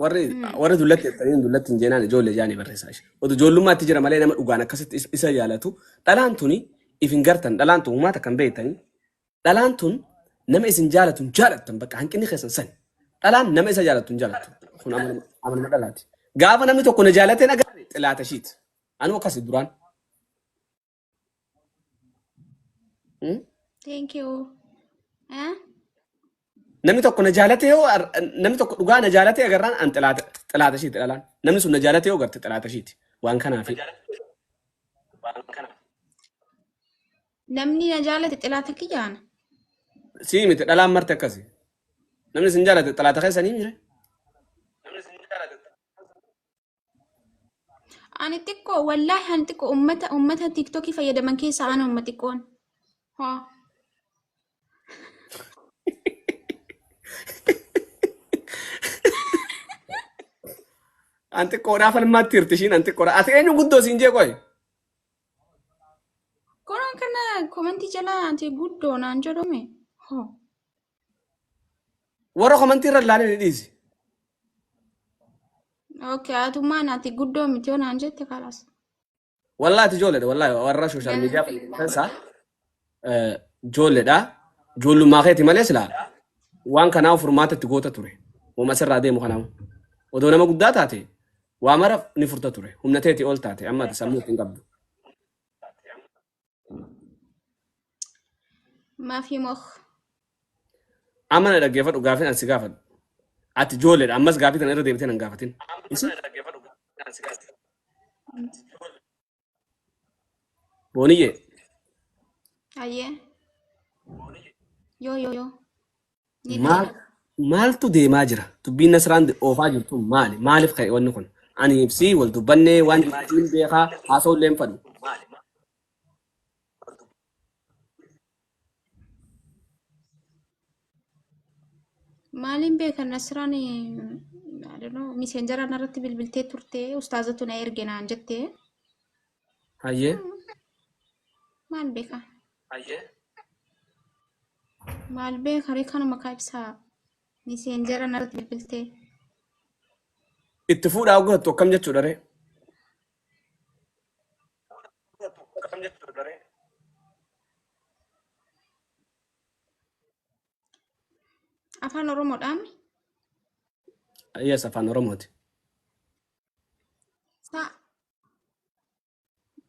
Warri warri dullatti jettanii dullatti hin jeenaan ijoollee jaanii barreessaa ishee. Otu ijoollummaatti jira malee nama dhugaan akkasitti is- isa yaalatu. Dhalaan tuni if hin gartan dhalaan tun uumaata kan beektanii. Dhalaan tun nama isin jaalatu hin jaalattan bakka hanqinni keessan sani. Dhalaan nama isa jaalatu hin jaalatu. Kun amaluma amaluma dhalaati. Gaafa namni tokko na jaalatee na gaafate xilaata ishiiti. Anuu akkasi duraan. Hmm? Thank you. Eh? Namni tokko na jaalate yoo ar- namni tokko dhugaa na jaalate agarraan an xilaata xilaata ishiiti dhalaan. Namni sun na jaalate yoo garte xilaata ishiiti. Waan kanaaf. Namni na jaalate xilaata kiyyaana. Sii miti dhalaan marti akkasi. Namni sin jaalate xilaata keessanii mire. Ani xiqqoo wallaahi ani xiqqoo ummata ummata tiktokii fayyadaman keessaa ana umma xiqqoon. Hoo. An xiqqoodhaa falmaatti hirti ishiin an xiqqoodha. Ati eenyu guddoo siin jee qoy. Kun kana komentii jalaa ati guddoo naan jedhume. Hoo. Warra komantii irra ilaalee ni dhiisi. Okay, atummaan ati guddoo miti yoo naan jette kalaas. Wallaahi ati ijoolleedha wallaahi warra sooshaal miidiyaa keessaa eh, ijoolleedha. Ijoollummaa keeti malee silaa waan kanaa furmaata itti goota ture. Uuma asirraa deemu kanaa. Odoo nama guddaa taate waa mara ni furta ture. Humna teeti ol taate amma ati sammuu itti hin qabdu. Maafii moh. Amma na dhaggeeffadhu gaafin an si gaafadhu. Ati ijoolleedha ammas gaafii kana irra deebitee nan gaafatin. Isi booniyyee Ayyee. Yoo yoo yoo. Ni Maal- beeka. Maaltu deemaa jira? Dubbiin Nasraan oofaa jirtu maali? Maaliif ka'e wanni kun? Ani ibsii wal dubbannee waan maatiin beekaa haasa'uu illee hin fadhu. Maaliin beeka Nasraan miiseenjaraan irratti bilbiltee turte ustaazatu na erge naan jette. Hayyee. Maal beeka? Hayyee. Maal beeka ree kanuma kaa ibsaa? Miseenjera narratti bilbiltee. Itti fuudhaa godhattu akkam jechuudha ree? Afaan Oromoodhaan Yes, afaan Oromooti. saa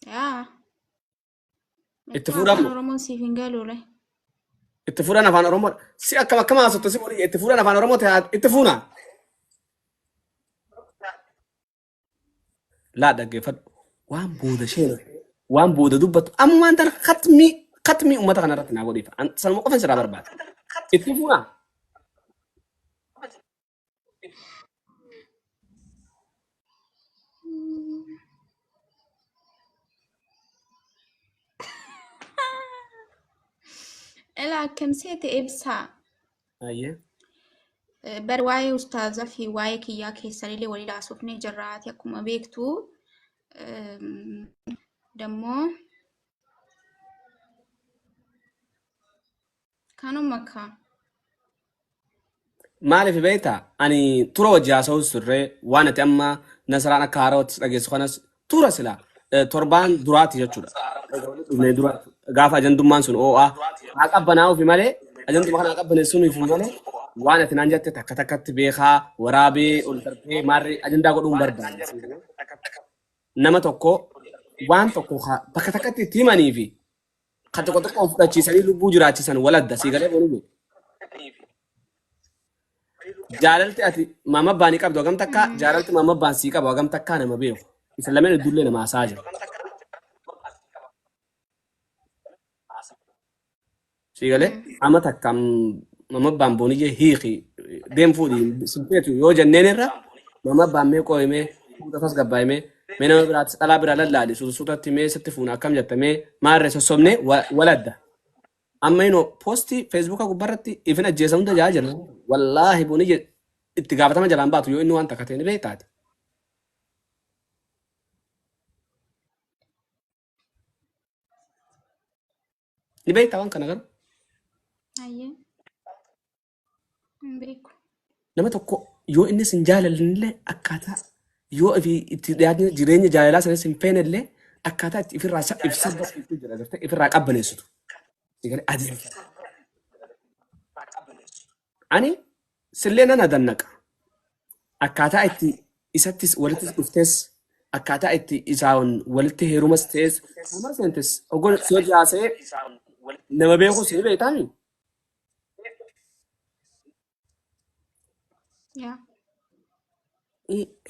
Yaa. Itti Michuu fuudhamu. afaan Oromoon siif hin galuule. Itti fuudhan afaan Oromoo. Si akkam akkam haasofta si boodiyya itti fuudhan afaan Oromoo ta'e itti fuuna. Laa dhaggeeffadhu. Waan booda isheen waan booda dubbattu amma waan tana katmii katmii uummata kana irratti naa godhiif. An- Sanuma qofa sirraa barbaada. Itti fuuna. Ilaa akkam seete ibsaa. Ayyee. Eh, Bar waa'ee ustaazaa fi waa'ee kiyyaa keessanillee walii laasofnee jirra. Ati akkuma beektu ehm, dammoo Kanuma kaa. Maaliif beektaa? Ani tura wajji haasa'us turre waan ati amma nasaraan akka haarawaatti dhageessu kanas tura sila eh, torbaan duraati jechuudha. Egaa walitti dhufnee dura gaafa ajandummaan sun oo'aa haa qabbanaa'uufi malee ajanduma kana haa qabbaneessuuniifi malee waan ati naan jette takka takkatti beekaa waraabee ol darbee maarree ajandaa godhuun barbaade. Nama tokko waan tokko haa- bakka takkatti itti himanii fi Kan tokko tokko of fudhachiisanii lubbuu jiraachisan wal adda sii galee boonuu. Jaalalti ati maama abbaan qabdu hagam takka jaalalti maama abbaan sii qabu hagam takka nama beeku. Isa lameen iddullee nama haasaa jiru. Sii galee amma takka maama abbaan booniyyee hiiki deem fuudhi sinfeetu yoo jenneen irra maama abbaan mee qooyimee fuudha tasgabbaa'imee Mee nama biraatti dhalaa biraa lallaali sun sutatti mee sitti fuuna akkam jetta mee maarree sossobnee wa- waladda. Amma inoo poostii feesbuukaa gubbarratti ifin ajjeesa hunda jaa jira. Wallaahi buni je- itti gaafatama jalaan baatu yoo inni waan takka ta'e ni beektaati. Ni beektaa waan kana garuu. Ayyee. Hin beeku. Nama tokko yoo inni sin jaalallee akkaataa yoo ofii itti dhiyaatni jireenya jaalalaa sanas hin feenellee akkaataa itti ofirraa sa- if sabbaneessitu jira jirte ofirraa qabbaneessitu. Egalee adeemsa. Ani sillee nan adannaqa. Akkaataa itti isattis walitti dhuftes akkaataa itti isaan walitti heerumas ta'es nama seentis ogoon si hojii haasa'ee nama beeku si beektaami. Yaa.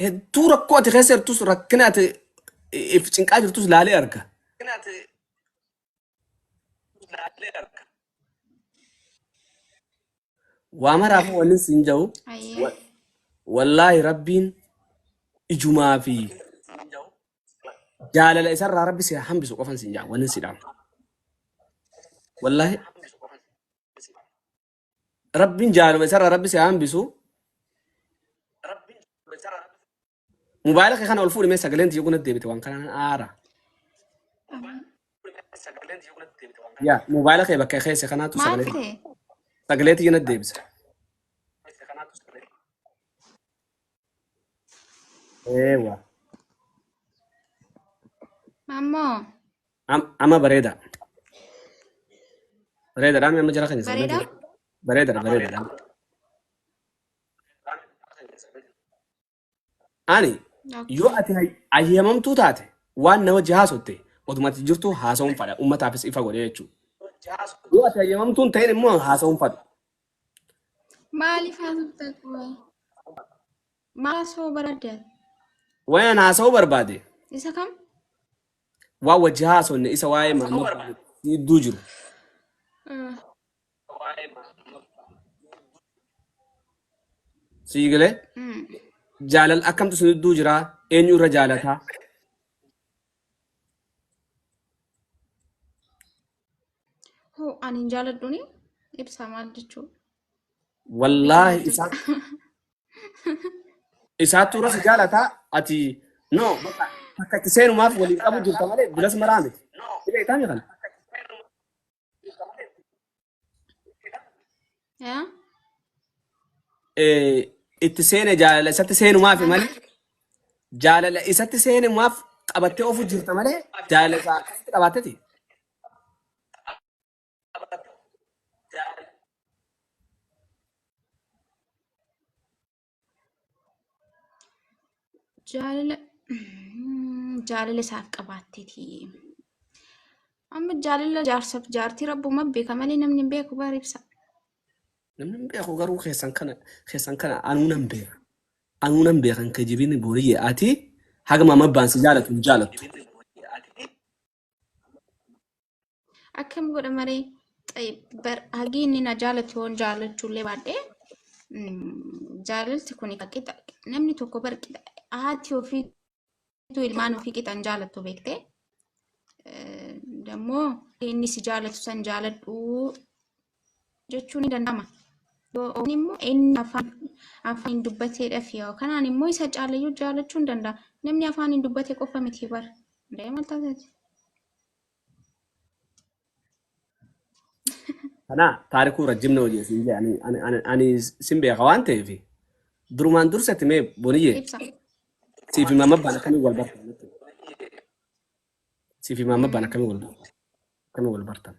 Hedduu rakkoo ati keessa jirtus rakkina ati if cinqaa jirtus laalee arga. Waa maraaf wanni siin jedhu Ayyee. wa- wallaahi rabbiin ijumaa fi jaalala isarraa rabbi si haa hambisu qofan sin jaa wanin si dhaama wallaahi rabbiin jaaluma isarraa rabbi si haa hambisu mubaayila kee kana ol fuudhi mee sagaleen tiyya kunatti deebite waan kanaan aara Amin. yaa mubaayila kee bakka keessa kanaatu Maal sagalee fide? sagalee tiyya natti deebisa Eewa. Ammoo Am- Amma bareeda. Bareedadha amma jara keenya sana bareedaa? jira. Bareedadha bareedadha. Ani yoo Okay. ati hay- hayyamamtuu taate waan na wajji haasotte oduma ati jirtu haasa'uun fadha uummataafis ifa godhee jechuudha. Yoo ati hayyamamtuu hin ta'in immoo haasa'uun fadha. Maaliif haasofta qoy? Maal haasoo barbaadde? Wayan haasa'uu barbaade. Isa kam? Waan wajji haasofne isa waa'ee Mahmud gidduu jiru. Ah, Sii galee mm. jaalala akkamtu sun gidduu jira eenyu irra jaalataa? Hoo ani hin jaaladhuun ibsaa maal jechuudha? Wallaahi isaa isaattu irra si jaalataa ati no bakka akka itti seenumaaf waliin qabu jirta malee bilas maraa miti. Dhibee itaa mi kana? Yaa? eh, itti seene jaalala isatti seenumaaf Maal? malee jaalala isatti seenumaaf qabattee ofu jirta malee jaalala isaa akkasitti qabaatteti. Jaalala mm, jaalala isaaf qabaatteeti. Amma jaalala jaarsaaf jaartii rabbuma beeka malee namni hin beeku bara ibsa. Namni hin beeku garuu keessan kana keessan kana anuu nan beeka. Anuu nan beekan kijibini booriyye ati hagama mabbaan si jaalatu hin jaalattu. akkam godha maree xayyib bar hagii inni na jaalatu yoon jaalachuullee baadhee jaalalti kun qixa namni tokko bar qixa haati ofiitu ilmaan ofii qixan jaalattu beektee dammoo inni si jaalatu san jaaladhu jechuun ni danda'ama. Yookaan immoo inni afaan afaaniin dubbateedhaaf yoo kanaan immoo isa caalayyuu jaalachuu ni danda'a. Namni afaaniin dubbate qofa miti bara. Hundee maal taasisa? Kana taarikuu rajjimna hojii siin jee ani- ani- ani- ani sin beeka waan ta'eef durumaan dursatti mee boniyyee Ibsa. siif himaa mabbaan akkamii wal bartan siif himaa mabbaan akkamii wal bartan akkamii wal bartan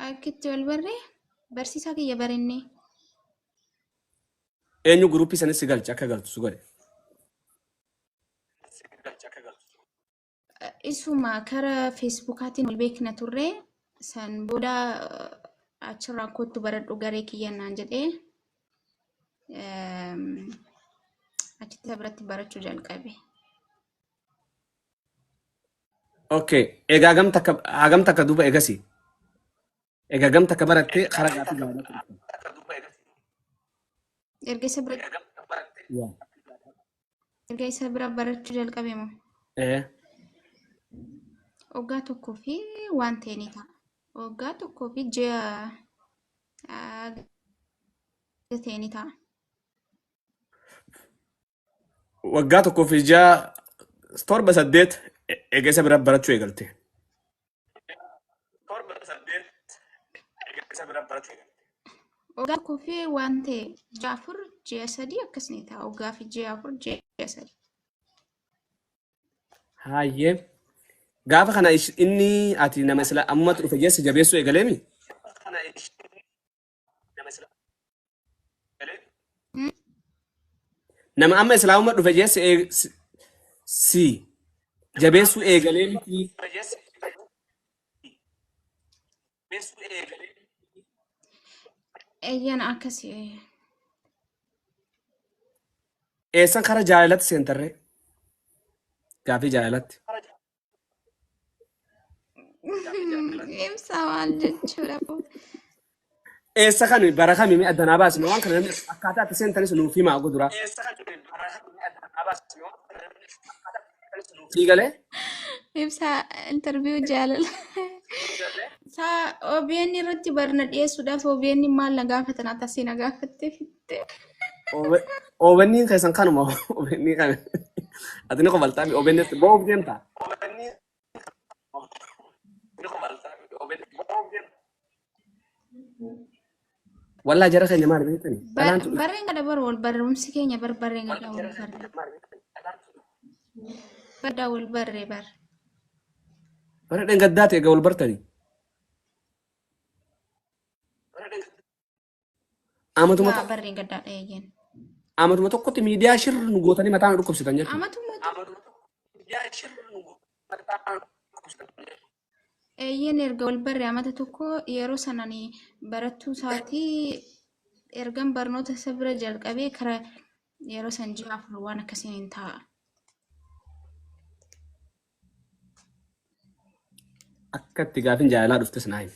Akkitti wal barree barsiisaa kiyya barennee. Eenyu guruppii sanis si galche akka galtu si godhe. Isuma kara feesbuukaatiin wal beekna turre san booda achirraa kottu baradhu garee kiyya naan jedhee eem, achitti isa biratti barachuu jalqabe. Okay. Egaa hagam takka hagam takka duuba egasii. Egaa hagam takka barattee karaa gaaffii gaafachuu dhufte. Erga isa biratti Yaa. Erga isa bira barachuu jalqabe moo? Ee. Waggaa tokkoo fi waan ta'e ni ta'a. Waggaa tokkoo fi ji'a ah, ta'e ni ta'a. Waggaa tokkoo fi ji'a torba saddeet e- eega isa bira barachuu eegalte. torba saddeet erga isa bira barachuu eegalte. Waggaa tokkoo fi waan ta'e ji'a afur ji'a sadii akkas ni ta'a. Waggaa fi ji'a afur ji'a sadii. Hayyee. Gaafa kana ish- inni ati nama sila ammumatti dhufe jesse jabeessuu eegaleemi? Kana ishee Nama amma islaamumma dhufe jee si eeg- si- si jabeessuu eegalee miti. Eeyyeen akkasii eeyyeen. Eessan kara jaalalatti seentarree? Gaafii jaalalatti. Ibsa maal jechuudha kun? Eessa kan bara kami mee addanaa baasne waan kana namni akkaataa itti seentanis nuuf himaa godura. Sii galee Ibsa interview jaalala. Saa OBN irratti barna dhiyeessuudhaaf OBN maal na gaafatan atasii na gaafatteef. Obenni keessan kanuma obenni kan ati ni qobaltaa mi obenni boob deemta. Wallaa jara keenya maal beektani? Dhalaan tu Barreen kana bar wal barumsi keenya bar barreen kana wal barre. Baddaa wal barre bar. bara dhengaddaa ta'e egaa wal bartani. Amatuma Dhugaa tokko barreen gaddaa dhayeeyyen. amatuma tokkotti miidiyaa shirri nu gootanii mataa nu dhukkubsitan jechuudha. Amatuma tokko eeyyeen erga wal barre amata tokko yeroo sanaan barattuu isaatii ergan barnoota isa bira jalqabee kara yeroo san ji'a afur waan akkasiin hin ta'a. Akka itti gaafin jaalalaa dhuftes naa himi.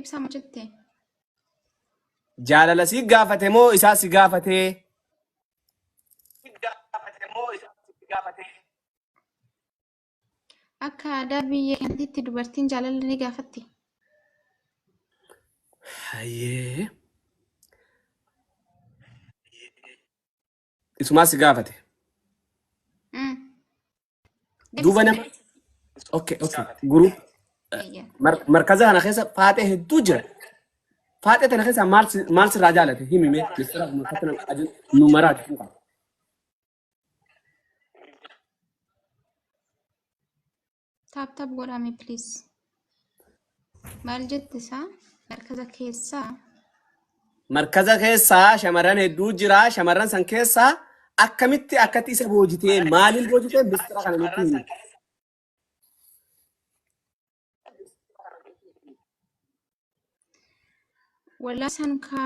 Ibsa maal jette? Jaalala si gaafate moo isaa si gaafatee? Akka aadaa biyya keenyaatti dubartiin jaalala ni gaafatti. Hayyee. isumaa si gaafate Mm. duuba nama Deebisee. okay okay guruup Eeyyee. mar- markaza kana keessa faaxee hedduu jira faaxee tana keessa maal si- maal sirraa jaalate himi mee mistira kuma akka nama ajin nu maraati fuqa Taap taap godhaame please. Maal jette isaa markaza keessaa Markaza keessaa shamarran hedduu jira. Shamarran san keessaa akkamitti akkatti isa boojitee maaliin boojitee mistira kana nutti himi. Walaa san ka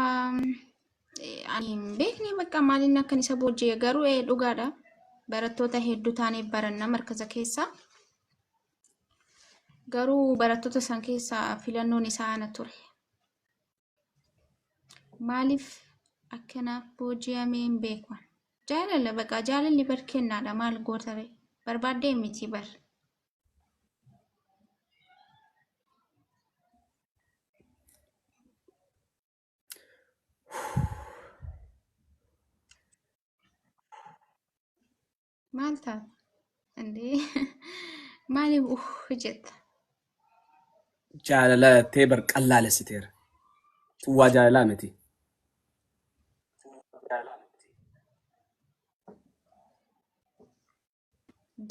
ani hin beekne bakka maaliin akkan isa booji'e garuu ee dhugaadha. Barattoota hedduu taanee baranna markaza keessa. Garuu barattoota san keessa filannoon isaa ana ture. Maaliif akkana booji'amee hin beeku. Jaalala baqa jaalalli bar kennaadha maal gootare barbaaddee miti bar. maal ta'a andee maaliif uh jetta jaalala tee bar qallaalessiteera. Sun waa jaalalaa miti.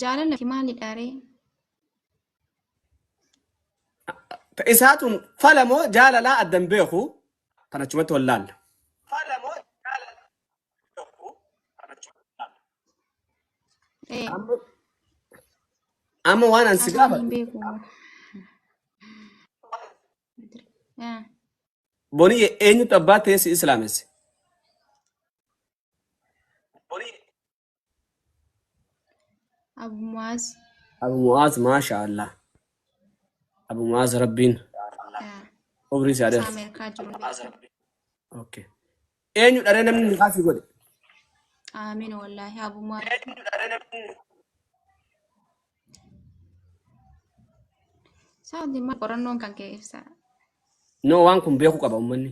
Jaalala maalidha ree? Isaatuun fala moo jaalalaa adda hin beeku kan achumatti wal laalla. Ee, Amma amma waan an si Ani gaafadhu hin beeku. Ee, boniyye eenyutu abbaa ta'ee si islaamesse? Abu Mu'aaz. Abu Mu'aaz maasha Allah. Abu Mu'aaz Rabbiin umrii isaa dheersu. Ameerikaa jiru. Okay. Eenyu dharee namni nikaa si godhe? Aamin wallaahi Abu Mu'aaz. Saati maal qorannoon kan kee ibsa. No waan kun beekuu qaba uummanni.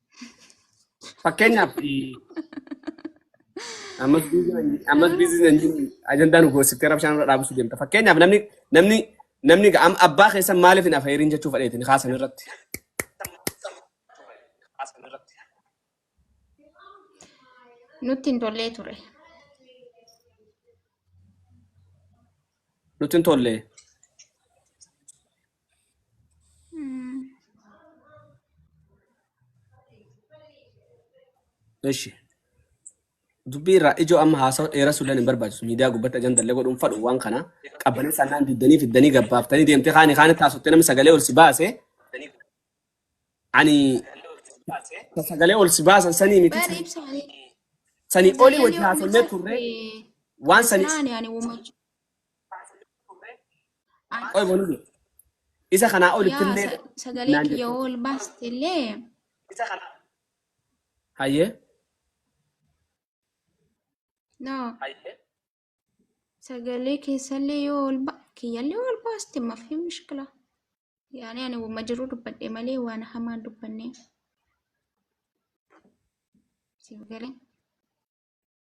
Fakkeenyaaf eh, ammas biizinaan- ammas biizinaan jiru ajandaa nu goosifte rabshaan irra dhaabsuu deemta. Fakkeenyaaf namni namni namni ga- am- abbaa keessan maaliif hin afeerin jechuu fedheeti ni kaasan irratti. Nutti hin tollee ture. Nutti hin tolle. Ishi. Dubbii irraa ijoo amma haasawa dheeressuu illee hin barbaachisu. Miidiyaa gubbatti ajanda illee godhuun fadhu waan kana. Qabbanee sannaan diddanii fiddanii gabbaaftanii deemtee kaani kaani taasifte namni sagalee ol si baase. Ani ta sagalee ol si baasan sanii miti. Bari ibsaanii. Sanii olii wajji haasofnee turre. Waan sanii Ibsaanii ani uumachu. Qoy bonuun isa kanaa olitti Yaa illee sa- sagalee naan kiyya jettu. yoo ol baaste illee Isa kana. Hayyee. no Hayyee. sagalee keessallee yoo ol ba kiyyallee ol baaste mafi mishkila. Yaani ani wama jiru dubbadhe malee waan hamaa hin dubbanne. Siif galee.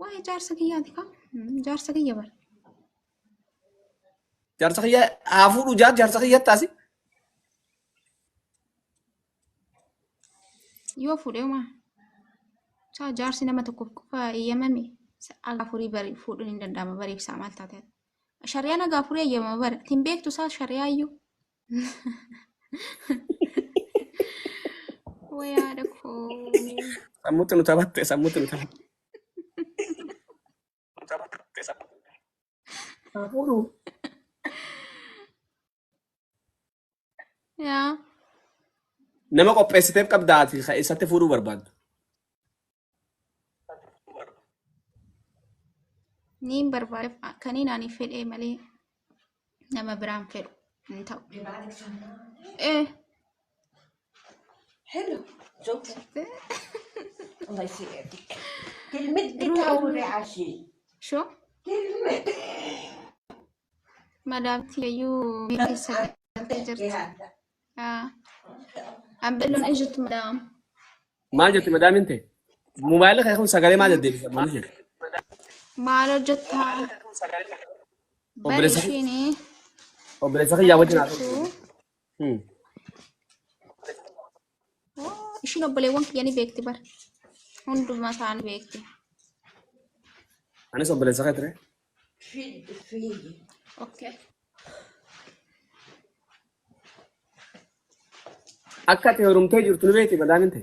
Waa'ee jaarsa kiyyaati kam? Jaarsa kiyya bara. Jaarsa kiyya haa fuudhu jaan jaarsa kiyya taasi. Yoo fuudhee maa? Saa jaarsi nama tokkoof qofa eeyyamame haga afurii bari fuudhuun hin danda'ama bariif isaa maal taate? Shari'aan haga afurii eeyyamama bara. Ittiin beektu isaa shari'aa iyyuu. Way haadha koo. Sammuutti nu taphatte, sammuutti nu taphatte. Haa fuudhuu. Yaa. Nama qopheessiteef qabda ati ka eessatti fuudhuu barbaadda. Niin barbaadef kaniin ani fedhee malee nama biraan fedhu hin ta'u. Eh, Hello. Joke. Wallahi si eegi. Kilmitti Ruu- taa'uure ashii. shoo Kilmitti. madaamti iyyuu biyya keessa galtee jirti. Ambelloon hin jirtu madaam. Maal jette madaamin ta'e? Mobaayila kee kun sagalee maal deddeebisa? Maal jette? Maal hojjettaa? Bari Obboleessa kee- ishiinii. obboleessa kiyyaa wajjin haa ta'u. Hmm. Ishiin obboleewwan kiyya ni beekti bar. Hundumaa isaa ni beekti. Anis obboleessa kee ture. Okay. Akka ati heerumtee jirtu ni beekti badaa miti.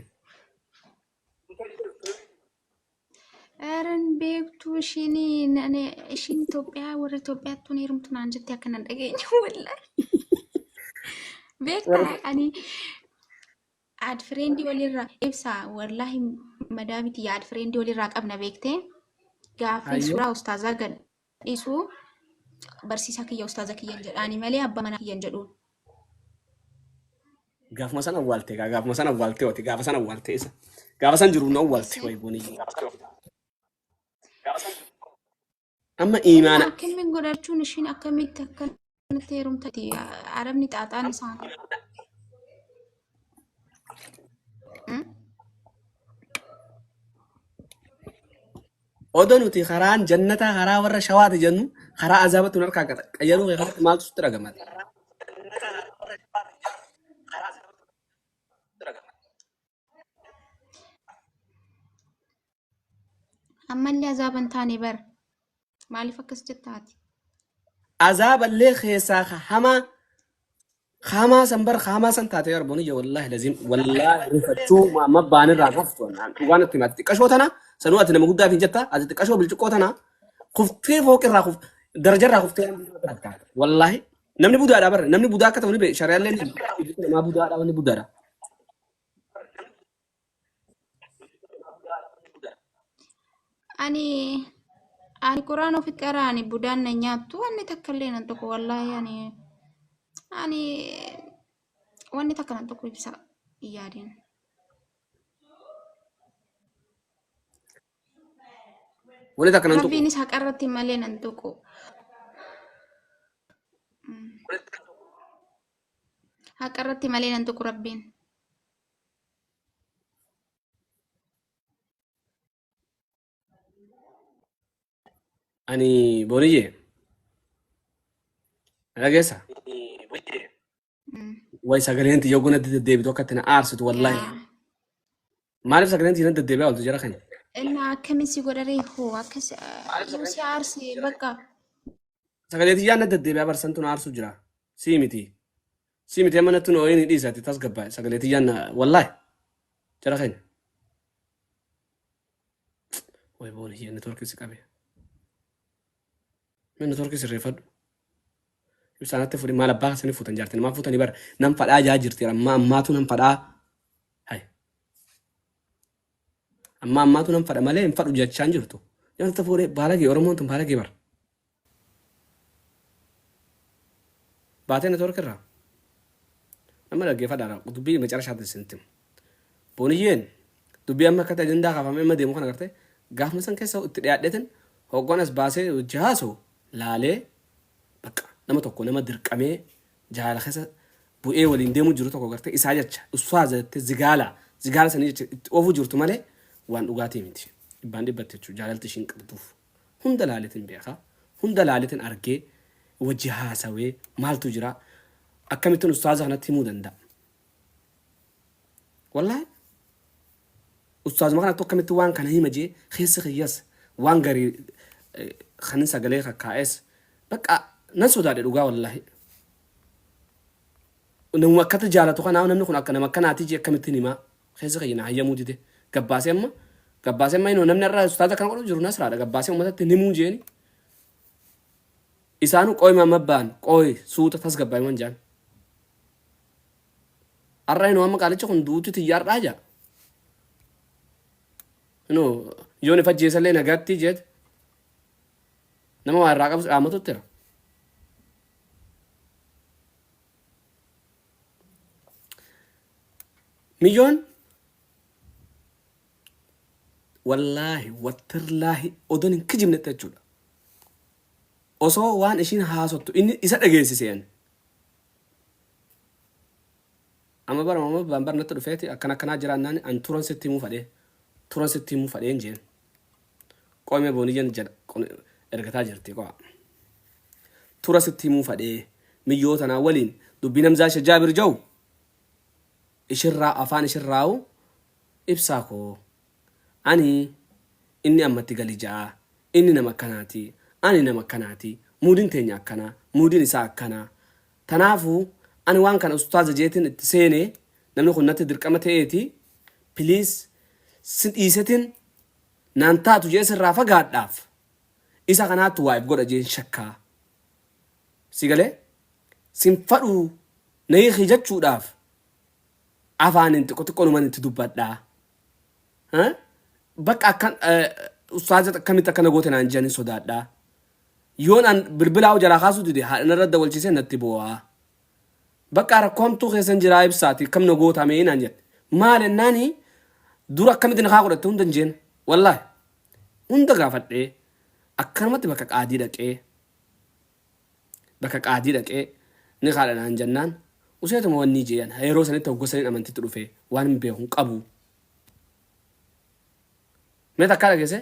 Aaron beektuu ishiin nane ishiin Itoophiyaa warra Itoophiyaatti tun heerumtu naan jettee akkana hin dhageenye wallahi. Beektaa ani Add friend walirraa ibsa wallahi madaa miti add friend walirraa qabna beektee gaaffii Ayyoo. suuraa ustaazaa gad dhiisuu barsiisaa kiyya ustaaza kiyyan jedhaani malee abbaa manaa kiyyan jedhuun. Gaafuma san awwaalte gaa gaafuma san awwaalte oti gaafa san awwaalte isa. Gaafa san jiru na awwaalte Eessee? way goonii. Amma Inni iimaana akkamiin godhachuun ishiin akkamitti akkanatti heerumtati arabni xaaxaan isaanii. Hmm? odo nuti karaan jannataa karaa warra shawaati jennu karaa azaabatti nu harkaa gata. Qayyaruu kee kanatti maaltu sitti dhagama? ammallee azaaba hin taane bar maaliif akkas jettaati azaaballee keessaa ka hamaa ka hamaa san bar ka hamaa san taate yarboon iyya wallaahi laziim wallaahi rifachuu amma baanirraa kuftu dhugaan itti himaati xiqqashoo tana sanuu ati nama guddaaf hin jetta ati xiqqashoo bilciqqoo tana kuftee fooqirraa kuf darajarraa kuftee wallaahi namni budaadha bar namni budaa akka ta'u ni beeku shari'aallee ni beeku. namaa budaadha wanni budaadha ani ani quraan ofi qaraa ani budaan na nyaattu wanni takka illee nan tokko wallaahi ani ani wanni takka nan tokko ibsa hin yaadin Wani takka nan tuqu. rabbiinis haqa irratti malee nan tokko Haqa irratti malee nan tuqu Rabbiin. Ani Boniyye. Dhageessa. Mm. Wayi sagaleen tiyya oguu natti deddeebitu akka itti na aarsitu wallaahi. Yaa. Maaliif sagaleen siinatti deddeebi'aa ooltu jara kana? Inna akkamiin si godharee hoo akkas yoo si aarse bakka Sagalee tiyyaa natti deddeebi'aa barsantu na aarsuu jira. Sii miti. Sii miti amma nattu na ooyini dhiisa ati tasgabbaa sagalee tiyyaa na wallaahi jara kana. Way boona hiyyee networkii si qabe. Mee network sirreeffadhu. Ibsaanatti fuudhi maal abbaa keessanii fuutan jaartanii maal fuutanii bara nan fadhaa jaa jirti ammaa ammaatu nan fadhaa. Hai. Ammaa ammaatu nan fadha malee hin fadhu jechaan jirtu. Jaartatti fuudhee baalagee Oromoon tun baalagee bara. Baatee network irraa. Nama dhaggeeffadhaadha dubbii macarashaatti isin tim. Booniyyeen dubbii amma akkatti ajandaa kaafamee amma deemu kana agartee gaafuma san keessa itti dhiyaadheetin hogguan as baasee wajji haasawu laalee baqqa nama tokko nama dirqamee jaalala keessa bu'ee waliin deemu jiru tokko agartee isaa jecha ustaaza jettee zigaala zigaala sanii jecha itti oofuu jirtu malee waan dhugaatii miti. Dhibbaan dhibbatti jechuu jaalalti ishiin qabduuf hunda laaleetin beeka hunda laaleetin argee wajji haasawee maaltu jira akkamittin ustaaza kanatti himuu danda'a. Wallahi ustaazuma kanattu akkamitti waan kana hima jee keessa kiyyas waan garii kanin sagalee kakkaa'es bakka nan sodaadhe dhugaa wallahi. Namuma akkatti jaalatu kanaa namni kun akka nama akkanaati jee akkamittiin himaa keessa kiyya na hayyamuu dide gabbaasee amma gabbaasee amma inuma namni irraa ustaaza kana godhu jiru nasraadha gabbaasee uummatatti hin himuu jeeni isaanu qooyi maamabbaan qooyi suuta tasgabbaa'e man jaan. Har'a inoo amma qaalichi kun duuti tiyya har'aa jaa. Inoo yoon if ajjeesallee nagaatti jeet nama waa irraa qabus dhaamatutti jira. Miyyoon wallaahi wattirlaahi odoon hin kijibnetti jechuudha. Osoo waan ishiin haasottu inni isa dhageessise ani. Amma bara mama baan bar natti dhufeeti akkan akkanaa jiraannaan an turan sitti himuu fadhee turan sitti himuu fadheen jeen qoy mee booniyyan jad kun ergataa jirti qoa tura sitti himuu fadhee miyyoo tanaa waliin dubbiin hamzaa ishe jaabir jau ishirraa afaan ishirraa'u ibsaa koo Ani, Inni amma itti gali ja'a. Inni nama akkanaati. Ani nama akkanaati. Muudiin teenya akkana. Muudiin isaa akkana. Tanaafu, ani waan kana ustaaza jeetin itti seene, namni kun natti dirqama ta'eeti, please si dhiisetin naan taatu je'ee sirraa fagaadhaaf, isa kanaattu waa if godha je'een shakka. Si galee? Sin fadhu na hiiki jachuudhaaf, afaaniin xiqqo xiqqoonuman itti dubbadha. Bakka akkan ustaaza akkamitti akkana goote naan jedhanii sodaadhaa. Yoon an bilbilaa hoo jalaa kaasuu dide haadha narra dawalchiisee natti boo'aa. Bakka rakkoo hamtuu keessan jiraa ibsaati akkam na goota mee naan jedhe. Maal ennaani dura akkamitti nakaa godhatte hunda hin jeen. Wallaahi hunda gaafadhee akkanumatti bakka qaadii dhaqee bakka qaadii dhaqee nikaadha naan jannaan useetuma wannii jee an yeroo sanitti hogga saniin amantitti dhufee waanin beeku hin qabu mee takkaa dhageesse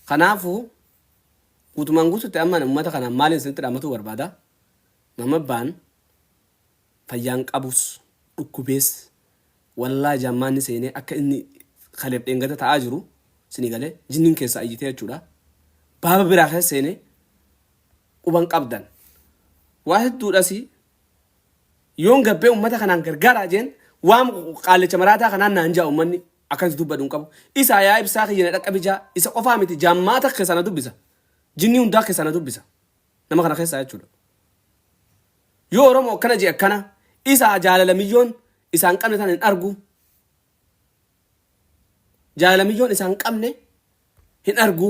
kanaafu guutumaan guututti amma ani ummata kanaan maaliin isinitti dhaamatuu barbaada mamabbaan fayyaan qabus dhukkubees wallahi jaammaanni seenee akka inni kaleef dheengada ta'aa jiru sini galee jinniin keessaa iyyitee jechuudha baaba biraa keessa seenee quban qabdan waa hedduudhasi yoon gabbee ummata kanaan gargaaraa jeen waan qaallicha maraataa kanaan naan jaa ummanni akkansi dubbadhu hin qabu isaa yaa ibsaa kiyya na dhaqqabijaa isa qofaa miti jaammaa takka sana dubbisa jinnii hundaa keessaa na dubbisa Nama kana keessaa jechuudha. Yoo Oromoo akkana jee akkana isaa jaalala miyyoon isaan qabne tana hin argu. Jaalala miyyoon isaan qabne hin argu.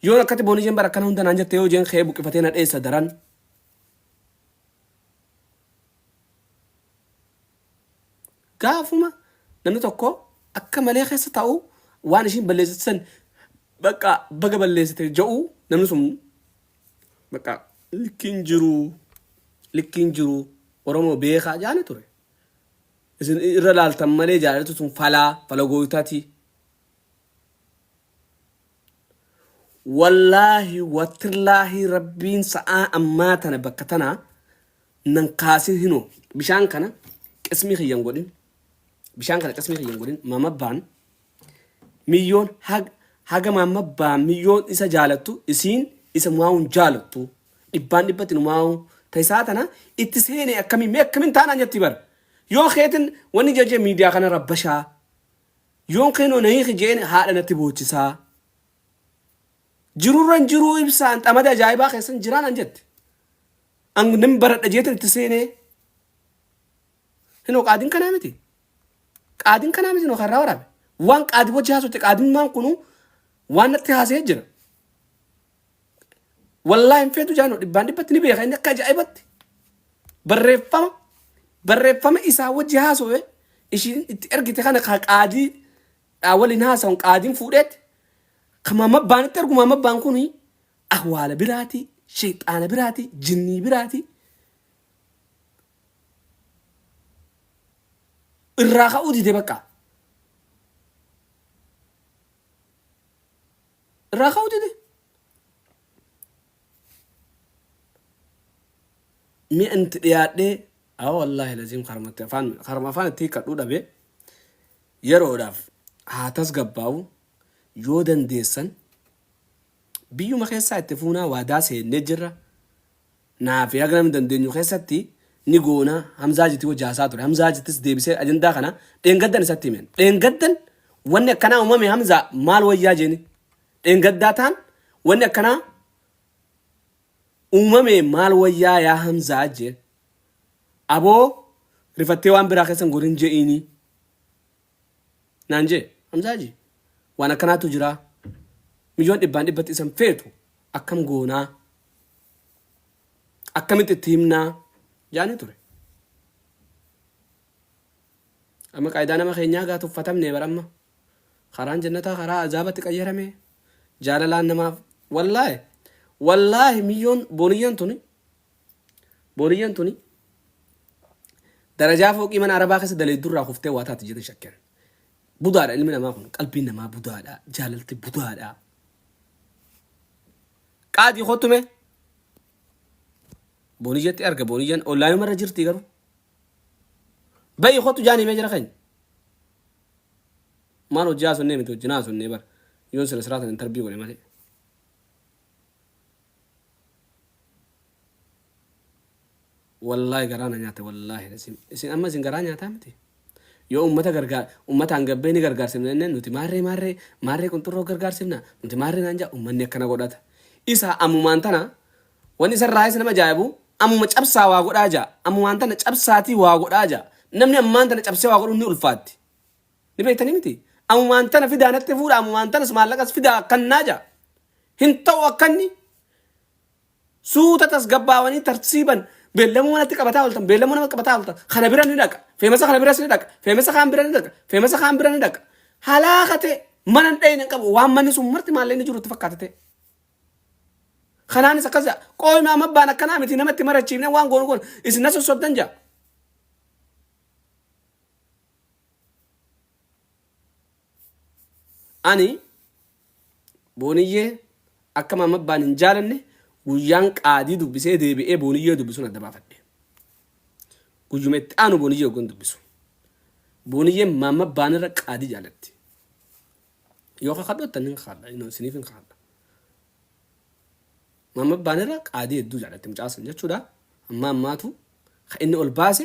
Yoon akkatti boonii jeen bara akkana hunda naan jette yoo jeen kee buqqifatee na dheessa daran. Gaafuma namni tokko akka malee keessa taa'u waan ishiin balleessite san bakka baga balleessite ja'u namni sun bakka likkiin jiru likkiin jiru Oromoo beekaa jaani ture. Isin irra laaltan malee jaalalti sun falaa fala gooytaati. Wallaahi watirlaahi rabbiin sa'aa ammaa tana bakka tanaa nan kaasin hinoo bishaan kana qismii kiyyan godhin bishaan kana qismii kiyyan godhin mamabbaan miyyoon hag, haga mamabbaan miyyoon isa jaalattu isiin isa mu'aawun jaalattu dhibbaan dhibbatti nu mu'aawuu ta isaa tana itti seene akkamiin mee akkamiin taanaan jatti bar yoo keetin wanni jajee miidiyaa kana rabbashaa yoon keenoo na hiiki jeen haadha natti boochisaa jirurran jiruu ibsaan xamada ajaa'ibaa keessan jiraan an jette An nan baradha jeetan itti seenee. Hinoo qaadiin kanaa miti. Qaadiin kanaa miti hinoo karraa waraabe. Waan qaadii wajji haasofte qaadimmaan kunuu waan natti haasee jira. Wallaahi hin feetu jaanoo dhibbaan dhibbatti ni beeka inni akka ajaa'ibatti. Barreeffama barreeffama isaa wajji haasofee ishiin itti ergite kana ka qaadii dhaa waliin haasa'uun qaadiin fuudheetti. Kama mabbaan itti ergu mabbaan kun Ahwaala biraati, sheyxaana biraati, jinnii biraati. Irraa ka'uu dide bakka. Irraa ka'uu dide. Mi'a itti dhiyaadhee haa wallaahi laziim karmatti afaan karma afaan itti hiikkadhuu dhabe yeroodhaaf haa tasgabbaa'u yoo dandeessan Biyyuma keessaa itti fuunaa waadaa seennee jirra naa fi haga namni dandeenyu keessatti ni goona Hamzaa Hajitti hojii haasaa ture Hamzaa Hajittis deebisee ajandaa kana dheengaddan isatti himeen dheengaddan wanni akkanaa uumame Hamzaa maal wayyaa jeeni dheengaddaa taan wanni akkanaa uumame maal wayyaa yaa Hamzaa jeen aboo rifattee waan biraa keessan godhin je'iinii naan jee Hamzaa Hajii waan akkanaatu jiraa miliyoon dhibbaan dhibbatti isan feetu akkam goonaa akkamitti itti himnaa jaanii ture amma qaayidaa nama keenyaa gaa tuffatamne bar amma karaan jannataa karaa azaabatti qayyarame jaalalaan namaaf wallaahi wallaahi miyyoon booniyyan tuni Booniyyan tuni darajaa fooqii mana Arabaa keessa daleeddu irraa kuftee waa taati jedhanii shakkan. Budaadha ilmi namaa kun. Qalbiin namaa budaadha. Jaalalti budaadha. Qaadii kottu mee. Booniyyatti arga booniyyan ollaayuma irra jirti garuu. Bayi kottu jaanii mee jira keenya. Maal hojjaa sunnee miti hojjinaa sunnee bara. Yoon sila siraatan intarbii godhe malee. Wallahi garaa na nyaate wallahi lazim isin amma isin garaa nyaataa miti yoo ummata gargaar ummata hangabbee ni gargaarsifna jenneen nuti maarree maarree maarree qunxurroo gargaarsifna nuti maarree naan jaa ummanni akkana godhata isa ammumaan tana wanni isarraayis nama jaa'ibu ammuma cabsaa waa godhaa jaa ammumaan tana cabsaatii waa godhaa jaa namni ammaan tana cabsee waa godhuun ni ulfaatti Ni beektanii miti? Amumaan tana fidaa natti fuudha, amumaan tanas maallaqas fidaa akkan naa ja'a. Hin ta'u akka inni suuta tasgabbaawanii tartiiban beellamuu manatti qabataa ooltan, beellamuu nama qabataa ooltan, kana bira ni dhaqa, feemasa kana biras ni dhaqa, feemasa kaan bira ni dhaqa, feemasa kaan bira ni dhaqa. Halaaka ta'e mana hin dhayne hin qabu, waan manni sun marti maallee inni jirutti fakkaata ta'e. Kanaanis akkas ja'a, qooyma amma abbaan akkanaa miti namatti marachiifne waan goonu goonu, isin na sossobdan ja'a. Ani Booniyyee akka Maam Abbaan hin jaalanne guyyaan qaadii dubbisee deebi'ee Booniyyee dubbisuun adda baafadhe. Guyyuma itti aanu Booniyyee oggan dubbisu. Booniyyeen Maam Abbaan irra qaadii jaalatti. Yoo kakadhoottan hin kakadha, inoo isiniif hin kakadha. Maam Abbaan irra qaadii hedduu jaalatti mucaa san jechuudha. Amma ammaatu ka inni ol baase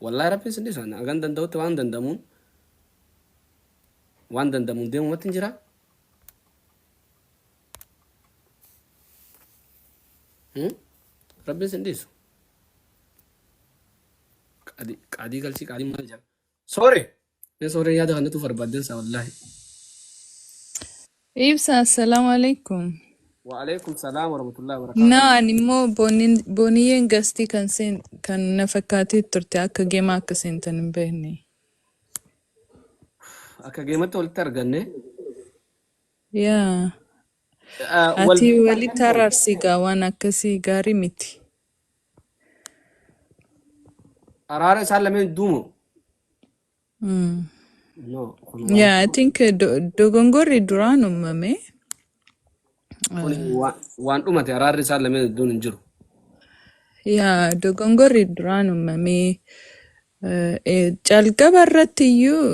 Wallahi rabbiin sin dhisan hagan danda'utti waan danda'amuun waan danda'amuun deemumatti hin jira. Hmm? Rabbiin sin dhiisu. Qaadii qaadii galchii qaadii maal jedha? Sore. Mee sooree yaada kannatu barbaadan isaa wallaahi. Ibsa, assalamu alaikum. Wa alaikum salaam wa rahmatullahi wa No, barakaatuh. ani immoo bonin- boniyyeen gastii kan seen kan na fakkaatee turte akka geemaa akka seentan hin beekne. Akka geematti walitti arganne. Yaa, Ah, Wal ati beektaa walitti kan ta'e. araarsi gaa waan akkasii gaarii miti. Araara isaan lameen duumo. Mm. No, kun waan Yeah, I tokko. think uh, do- dogongorri duraan uumame. Kun Uh, waan waan dhumate araarri isaan lameen iddoon hin jiru. yeah, dogongorri duraan uumame. Calqaba irratti iyyuu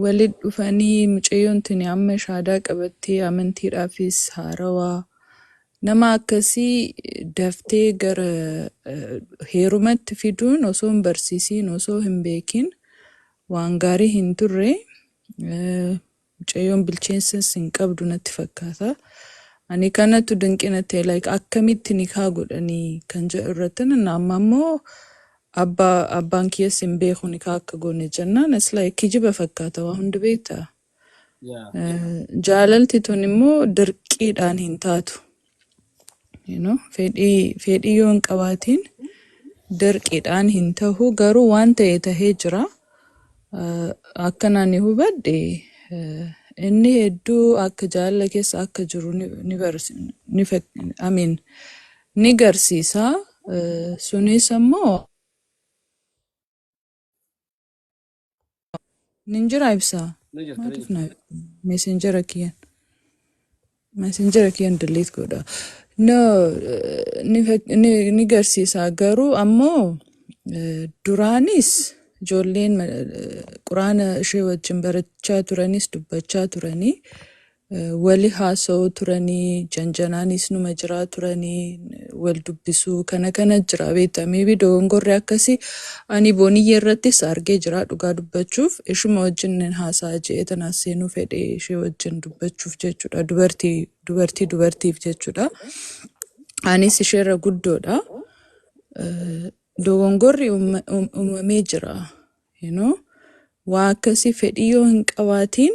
walitti dhufanii mucayyoon tuni amma shaadaa qabattee amantiidhaafis haarawaa nama akkasii daftee gara eh, heerumatti fiduun osoo hin barsiisiin osoo hin beekin waan gaarii hin turre. Eh, Mucayyoon bilcheensas hin qabdu natti fakkaata. Ani kanatu dinqii natti ta'e like akkamitti nikaa godhanii kan jedhu irratti nan amma immoo abba abbaan kiyyas hin beeku nikaa akka goone jennaan it's like kijiba fakkaata waa hundi beektaa. Yeah. Eh, Jaalalti tun immoo dirqiidhaan hin taatu. You know, fedhii fedhii yoo hin qabaatiin dirqiidhaan hin tahu garuu waan ta'e tahee jira. Eh, Akkan ani hubadhe eh, inni hedduu akka jaalala keessa akka jiru ni ni barsi- ni fak- I mean, ni garsiisa. Eh, Sunis ammoo Nin jira ibsaa. Ni jirta ni Maatiif jirta. naaf meesenjera kiyyan. Meesenjera kiyyan delete godha. No, eh, ni, fak- ni, ni garsiisa garuu ammoo eh, duraanis ijoolleen ma- eh, quraana ishee wajjin barachaa turanis dubbachaa turanii Wali haasa'u turani janjanaanis numa jiraa turani wal dubbisuu kana kana jira beekta maybe dogongorri akkasi ani booniyye irrattis argee jira dhugaa dubbachuuf ishuma wajjin nin haasa'a je'ee tanaas seenuu fedhe ishee wajjin dubbachuuf jechuudha dubartii dubartii dubartiif jechuudha anis isheerra guddoodha Eh, dogongorri umma- um- uumamee jira You know? Waa akkasii fedhii yoo hin qabaatiin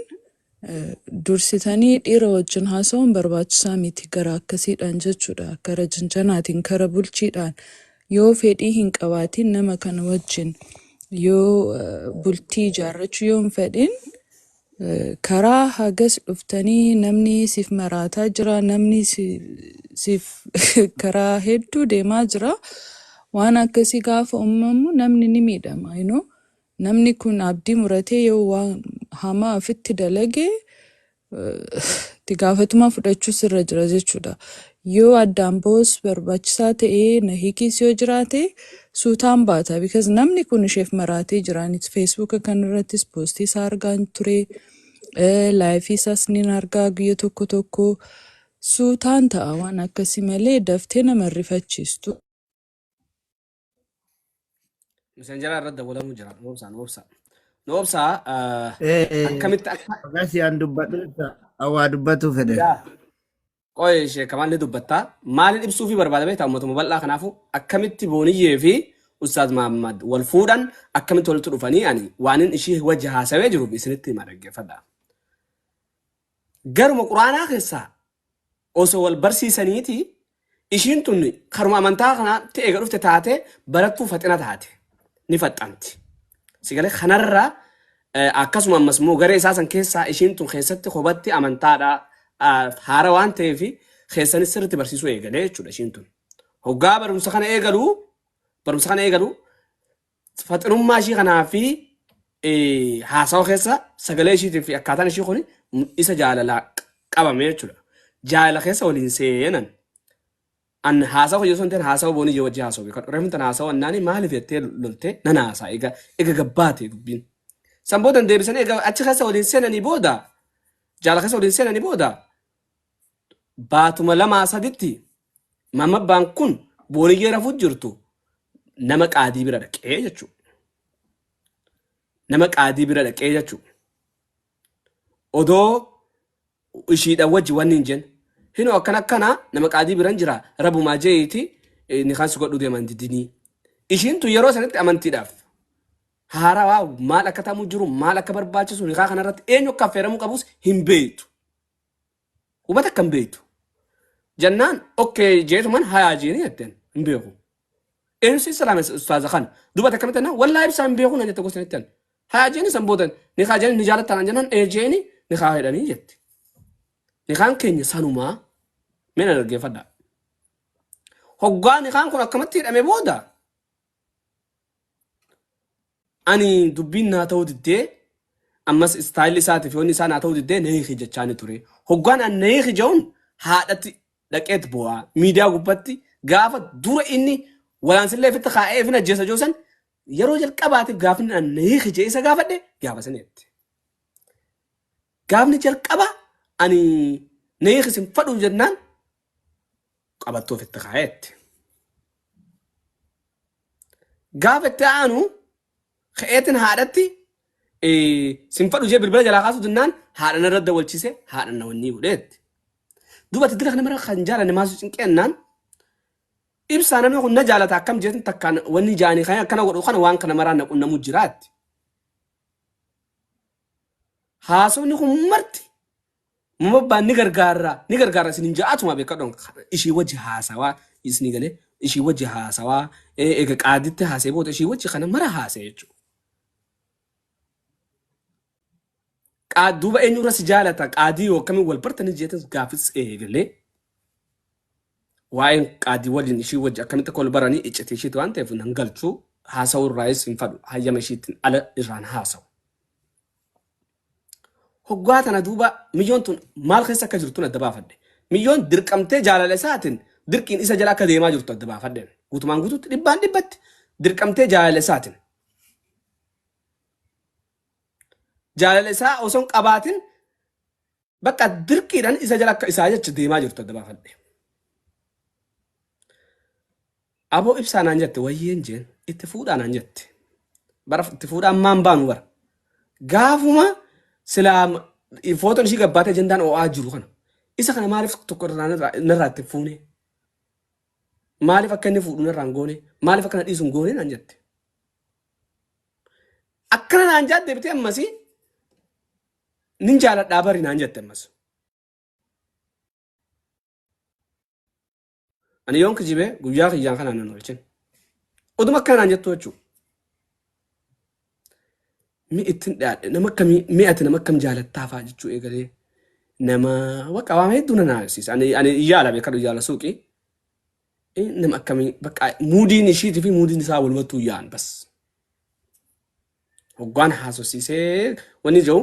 eh, dursitanii dhiira wajjin haasa'uun barbaachisaa miti gara akkasiidhaan jechuudha. Kara jinjanaatiin, kara bulchiidhaan yoo fedhii hin qabaatiin nama kana wajjin yoo eh, bultii ijaarrachuu yoo hin fedhin Karaa hagas dhuftanii namni siif maraataa jira, namni si- siif karaa hedduu deemaa jira. Waan akkasii gaafa uumamu namni ni miidhama. You know? Namni kun abdii muratee yoo waan hamaa ofitti dalage eh, itti gaafatamaa fudhachuu sirra jira jechuudha. Yoo addaan bahus barbaachisaa ta'e na hiikiis yoo jiraate suutaan baata because namni kun isheef maraatee jira ani feesbuuka kan irrattis poostii isaa argaan ture laayifii isaas nin argaa guyya tokko tokko suutaan ta'a waan akkasii malee daftee nama hin rifachiistu. Messengeraa irratti dawwalamuu jira. Noobsaa, noobsaa. Noobsaa ah, Eh, eh, akkamitti akka Bagaa si aan dubbadhu ibsa. Awwaa dubbatuu fedhe. yaa qoy ishee kamaan ni dubbattaa. Maaliin ibsuu fi barbaada beektaa uummatuma bal'aa kanaafuu akkamitti booniyyee fi Ustaaz Mahammad wal fuudhan akkamitti walitti dhufanii ani waanin ishii wajji haasawee jiruuf isinitti hima dhaggeeffadha. Garuma Qur'aanaa keessaa osoo wal barsiisaniiti ishiin tun karuma amantaa kanaatti eega dhufte taate barattuu faxina taate. Ni faxxanti. Si galee kanarra eh, akkasuma ammas immoo garee isaa san keessaa ishiin tun keessatti kobatti amantaadha ah, haara waan ta'eef keessanis sirriitti barsiisuu eegalee jechuudha ishiin tun. Hoggaa barumsa kana eegalu barumsa kana eegalu faxinummaa ishii kanaa fi eh, haasawa keessa sagalee ishiitiin fi akkaataan ishii kun isa jaalalaa q- qabame jechuudha. Jaalala keessa waliin seenan. An haasawa hojii osoo hin ta'in haasawa boonii ijoo wajjin haasawuu beekan. Reefun tan haasawa annaanii maaliif jettee loltee nan haasaa egaa egaa gabbaate dubbiin. San booda hin deebisanii egaa achi keessa waliin seenanii booda jaalala keessa waliin seenanii booda baatuma lamaa saditti Mamabbaan kun booliyyee rafuu jirtu nama qaadii bira dhaqee jechuu. Nama qaadii bira dhaqee jechuu. Odoo ishiidha wajji wanni hin jennu. Hino akkana akkana nama qaadii biran jira rabumaa jeeyiiti ni kan si godhu deeman didinii. Ishiin tun yeroo sanitti amantiidhaaf haarawaa maal akka ta'amu jiru maal akka barbaachisu nikaa kanarratti eenyu akka affeeramuu qabus hin beektu. Hubata akka hin beektu. Jennaan okkee jeetuman hayaa jeeni jetteen hin beeku. Eenyu si salaame ustaaza kana. Dubata akkamitti jennaan wallaahi ibsaa hin beeku na jette gosa jetteen. Hayaa jeeni san booda nikaa jeeni ni jaalattaa naan jennaan ee jeeni nikaa hidhanii jette. Nikaan keenya sanumaa mee na dhaggeeffadhaa. Hoggaa nikaan kun akkamatti hidhame booda Ani dubbiin naa ta'uu diddee ammas istaayilli isaati fi wanni isaa naa ta'uu diddee na hiiki jechaani ture. Hoggaan an na hiiki ja'uun haadhatti dhaqeet boo'a. Miidiyaa gubbatti gaafa dura inni walaansillee ifitti kaa'ee ifin ajjeesa ja'u san yeroo jalqabaatiif gaafni an na hiiki ja'ee isa gaafadhe gaafa saniitti. Gaafni jalqaba ani na hiiki sin fadhu jennaan qabattuuf itti kaa'eetti. Gaafa itti aanu ka'eetiin haadhatti sin fadhu jee bilbila jalaa kaasuu dinnaan haadha narra dawalchise haadha na wannii godheetti. Duuba itti diraqni mara kan jaalanne maasuu cinqeennaan ibsaa namni kun na jaalata akkam jeetin takkaan wanni jaanii kan akkana godhu kana waan kana maraa na qunnamuu jiraatti. Haasofni kun marti Mobbaan ni gargaarra ni gargaarra isin hin ja'atuma beekadhoon ishii wajji haasawaa isni galee ishii wajji haasawaa ee, eega qaaditti haasee booda ishii wajji kana mara haasee jechuudha. Qaad duuba eenyurra si jaalata qaadii yoo akkamiin wal bartanii jeetan gaafis eegalee waa'een qaadii waliin ishii wajji akkamitti akka wal baranii iccitii ishiiti waan ta'eef nan galchuu haasawuu irraayis hin fadhu hayyama ishiitiin ala irraan haasawu. Hoggaa tana duuba miyyoon tun maal keessa akka jirtun adda baafadhe. Miyyoon dirqamtee jaalala isaatin dirqiin isa jala akka deemaa jirtu adda baafadheen. Guutumaan guututti dhibbaan dhibbatti dirqamtee jaalala isaatin. Jaalala isaa osoon qabaatin Bakka dirqiidhaan isa jala akka isaa jecha deemaa jirtu adda baafadhe. Aboo ibsaa naan jette wayyeen jeen itti fuudhaa naan jette. Bara itti fuudhaa ammaan baanu bara. Gaafuma silaa footoon ishii gabbaatee jendaan oo'aa jiru kana. Isa kana maaliif tokko irraa narraa narraa itti hin fuune? Maaliif akka inni fuudhu narraa hin goone? Maaliif akka na dhiisu hin goone naan jette. Akkana naan jaat deebitee ammasii nin jaaladhaa bari naan jette ammas. Ani yoon kijibe guyyaa kiyyaan kanaan nan oolchin. Oduma akka naan jettu jechuu. Mi ittin dhiyaadhe nama akkamii mi ati nama akkam jaalattaa fa'aa jechuu eegalee nama bakka waan hedduu nan haasisa. Ani ani yaala beekadhu yaala suuqii. Eh, Nama akkamii bakka muudiin ishiitii fi muudiin isaa walumattuu yaa'an bas. Hoggaan haasofsiisee wanni jiru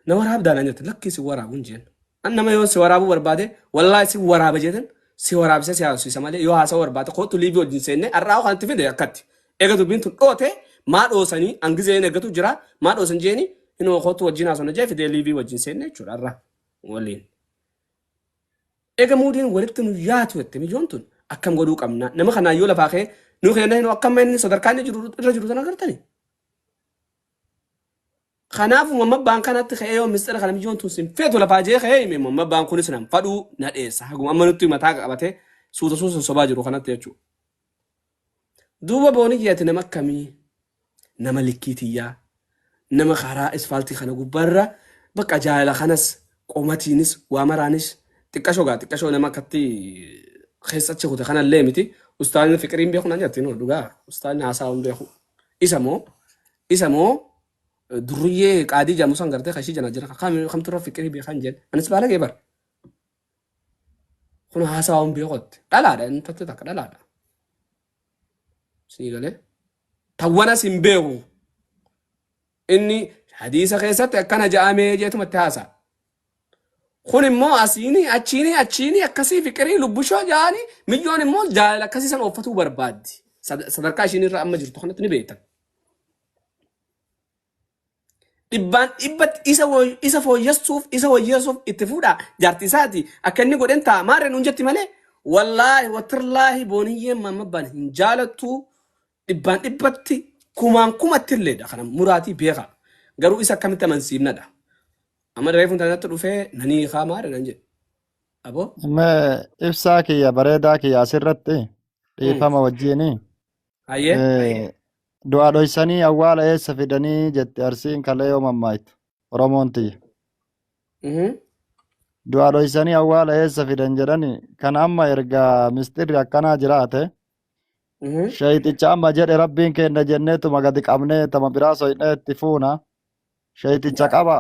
na waraabdaa naan jette lakkii si waraabuun jeen. An nama yoo si waraabuu barbaade wallaahi si waraaba jeetan si waraabisee si haasofsiisa malee yoo haasa'uu barbaade kootu liivii wajjin seennee har'aa kan itti fide akkatti. Eega dubbiin tun dhoote maa dhoosanii an gizeen eeggatu jira maa dhoosan jeeni hinoo kootu wajjin haasofna jee fidee liivii wajjin seenne jechuudha har'aa waliin. Ega muudiin walitti nu yaatu jette mijoon tun akkam godhuu qabna nama kanaan yoo lafaa kee nu keenya hin akkam inni sadarkaa inni jiru irra jiru sana agartani. Kanaafuu mamma baan kanatti ka'ee yoo mistira kana mijoon tun sin feetu lafaa jee ka'ee hime mamma baan kunis nan fadhuu na dheessa haguma amma nutti mataa qabatee suuta suuta sobaa jiru kanatti jechuudha. Duuba Booniyyee ati nama akkamii? Nama likkii tiyyaa. Nama karaa isfaaltii kana gubbaa irra bakka jaalala kanas qomatiinis waa maraanis xiqqashoo gaa xiqqashoo nama akkatti keessa achi kute kanallee miti. Ustaazni fiqiriin beeku naan jatti noo dhugaa ustaazni haasaawuun beeku. Isa moo isa moo durriyyee qaadii jedhamu san gartee kan ishii jana jira kam kamtu irra fiqirii beekan jedhe anis baalagee bara. Kun haasaa hin beekotti. Dhalaadha inni tattee takka dhalaadha. Sii galee. Tawwanas hin beeku. Inni hadiisa keessatti akkana ja'amee jeetumatti haasaa. Kun immoo asiini achiini achiini akkasii fiqirii lubbushoo jaani milyoon immoo jaalala akkasii san ooffatuu barbaaddi. Sad- Sadarkaa ishiin irra amma jirtu kanatti ni beektan. Dhibbaan dhibbatti isa wo- isa fooyyessuuf isa wayyeessuuf itti fuudha jaartii isaati akka inni godhen ta'a maarree nuun jetti malee wallaahi watirlaahi booniyyeen maammabbaan hin jaalattu dhibbaan dhibbatti kumaan kumatti illeedha kana muraatii beeka garuu isa akkamitti amansiifnadha amma reefu intaanatti dhufee nanii kaa maarree nan jedhe aboo Amma ibsaa kiyya bareedaa kiyya asirratti mm. dhiifama wajjini Hayyee. Eh, Du'aa dhoysanii awwaala eessa fidanii jetti arsiin kalee yoo mammaaktu. Oromoon tiyya. Mhm. Du'aa dhoysanii awwaala eessa fidan jedhani kan amma erga misxirri akkanaa jiraate Mhm. shayxicha amma jedhe rabbiin keenna jenneetuma gadi qabnee tama biraa soynee itti fuuna. Shayxicha qaba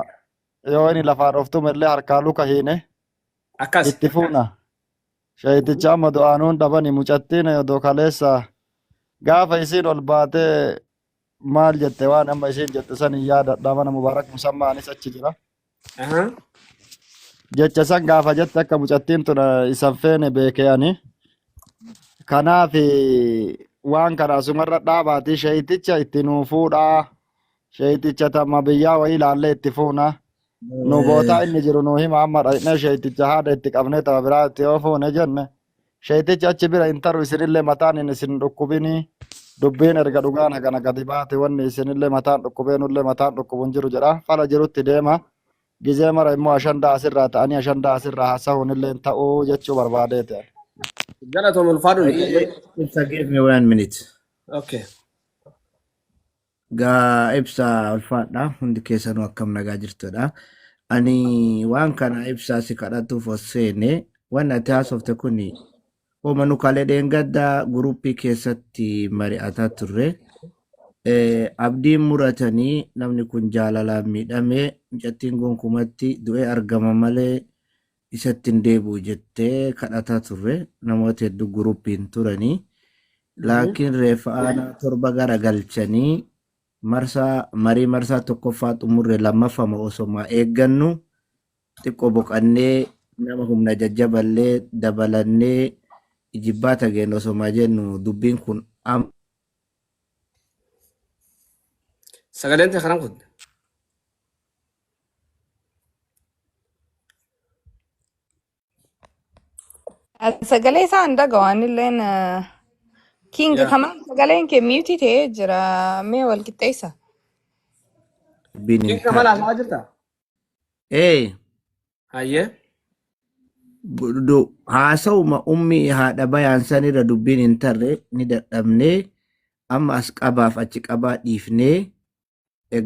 yoo inni lafaa dhoftume illee harkaa luka hiine Akkas. itti fuuna. Sheeyticha amma du'aanuun dhabani mucattiin odoo kaleessa gaafa isiin ol baatee maal jette waan amma isiin jette san hin yaadadha mana mubaarak musammaa anis achi jira Aha. jecha san gaafa jette akka mucattiin tun eh, isan feene beekee ani kanaaf eh, waan kana asumarra dhaabaatii sheeyticha itti nuu fuudhaa sheeyticha tamma biyyaa wayii ilaallee itti fuuna Nu bootaa Eh, inni jiru nuu hima amma dhaqnee sheeyticha haadha itti qabnee tama biraa itti yoo fuune jenne sheeytichi achi bira hin taru isinillee mataan hin isin dhukkubinii dubbiin erga dhugaan hagana gadi baate wanni isinillee mataan dhukkubee nullee mataan dhukkubu hin jiru jedha fala jirutti deema gizee mara immoo ashandaa asirraa ta'anii ashandaa asirraa haasa'uun illee hin ta'uu jechuu barbaadee ta'e. Galatoom ulfaadhu. Ayyee, ibsa give me one minute. Okay. Gaa ibsa ulfaadha hundi keessanuu akkam nagaa jirtudha. Ani waan kana ibsaa si kadhatuuf os seene waan ati haasofte kun hooma nu kalee dheengadda guruuppii keessatti mari'ataa turre. Eh, Abdiin muratanii namni kun jaalalaan miidhamee mucattiin gonkumatti du'ee argama malee isatti hin deebi'u jettee kadhataa turre namoota hedduu gurupiin turanii laakiin reeffa aanaa torba gara galchanii marsaa marii marsaa tokkoffaa xumurre lammaffama osomaa eeggannu xiqqoo boqannee nama humna jajjaballee dabalannee ijibbaa tageen osomaa jennu dubbiin kun am Sagaleen ta'e kanan kun. Sagalee isaa hin dhaga'u anilleen eh, King Yaa kamaan sagaleen kee miyuutii ta'ee jira mee wal qixxeessa. Rabbiin hin King Kamal taane. haasawaa jirta? Ee, Hayyee. du- haasawuma ummi haadha bayaan sanirra dubbiin hin tarre ni dadhabnee amma as qabaaf achi qabaa dhiifnee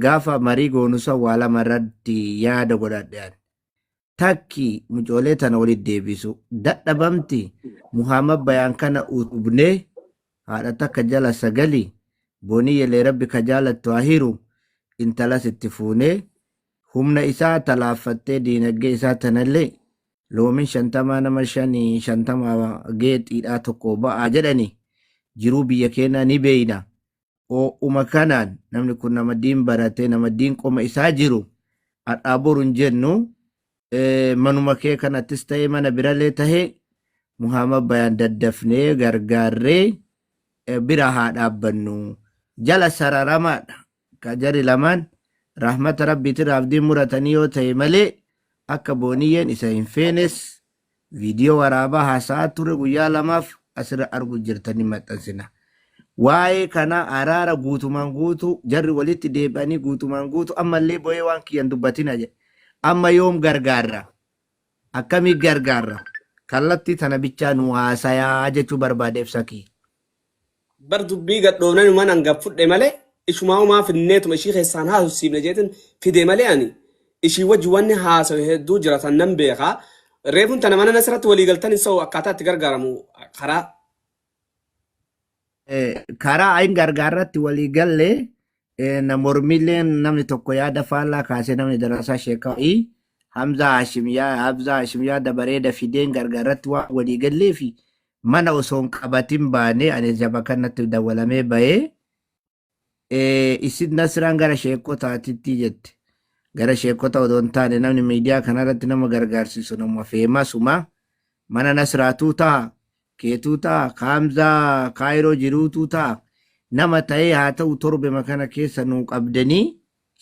gaafa marii goonu san waa lama irratti yaada godhadhe ani. Takki mucoolee tana walitti deebisu. Dadhabamti Muhammad bayaan kana utubnee haadha takka jala sagali bonii yelee rabbi ka jaalattu haa hiru intalas itti fuunee humna isaa talaaffattee diinagdee isaa tanallee loomin shantamaa nama shanii shantamaa geexiidhaa tokko ba'aa jedhani jiruu biyya keenyaa ni beeyna Oo'uma kanaan namni kun nama diin baratee nama diin qoma isaa jiru har'aa boru hin jennu eh, manuma kee kanattis ta'ee mana biralee ta'ee Muhammad Bayaan daddafnee gargaarree eh, bira haa dhaabbannu jala sararamaadha ka jari lamaan rahmata rabbiitirraa abdiin muratanii yoo ta'e malee akka booniyyeen isa hin feenes Viidiyoo waraabaa haasa'aa ture guyyaa lamaaf asirra argu jirtan ni maxxansina. Waa'ee kana araara guutumaan guutuu jarri walitti deebi'anii guutumaan guutuu ammallee bo'ee waan kiyyan dubbatina jedhe. Amma yoom gargaarra? Akkamii gargaarra? Kallattii tana bichaa nu haasayaa jechuu barbaada ibsa kiyya. bar dubbii gadhoofnanuman an gad fudhe malee ishumaaumaa finneetuma ishii keessaan haasofsiifne jeetin fide malee ani ishii wajji wanni haasawe hedduu jira tan nan beeka reefun tana mana nasirratti walii galtani so akkaataa itti gargaaramu karaa Eh, karaa hin gargaarratti walii galle Eh, na mormilleen namni tokko yaada faallaa kaasee namni darasaa sheekaa'ii Hamzaa Haashim yaa Hamzaa Haashim yaada bareeda fideen gargaaratti waan walii gallee fi mana osoo hin qabatin baanee ani jaba kanatti dawwalamee bahee eh, isin nasiraan gara sheekotaatitti jette. Gara sheekota odoo hin taane namni miidiyaa kanarratti nama gargaarsisu nama feemasuma mana nasiraatuu ta'a. keetuu ta, a kaamza kaayiroo jiruutuu ta, a nama taee haa tau torbema kana keessa nuu qabdani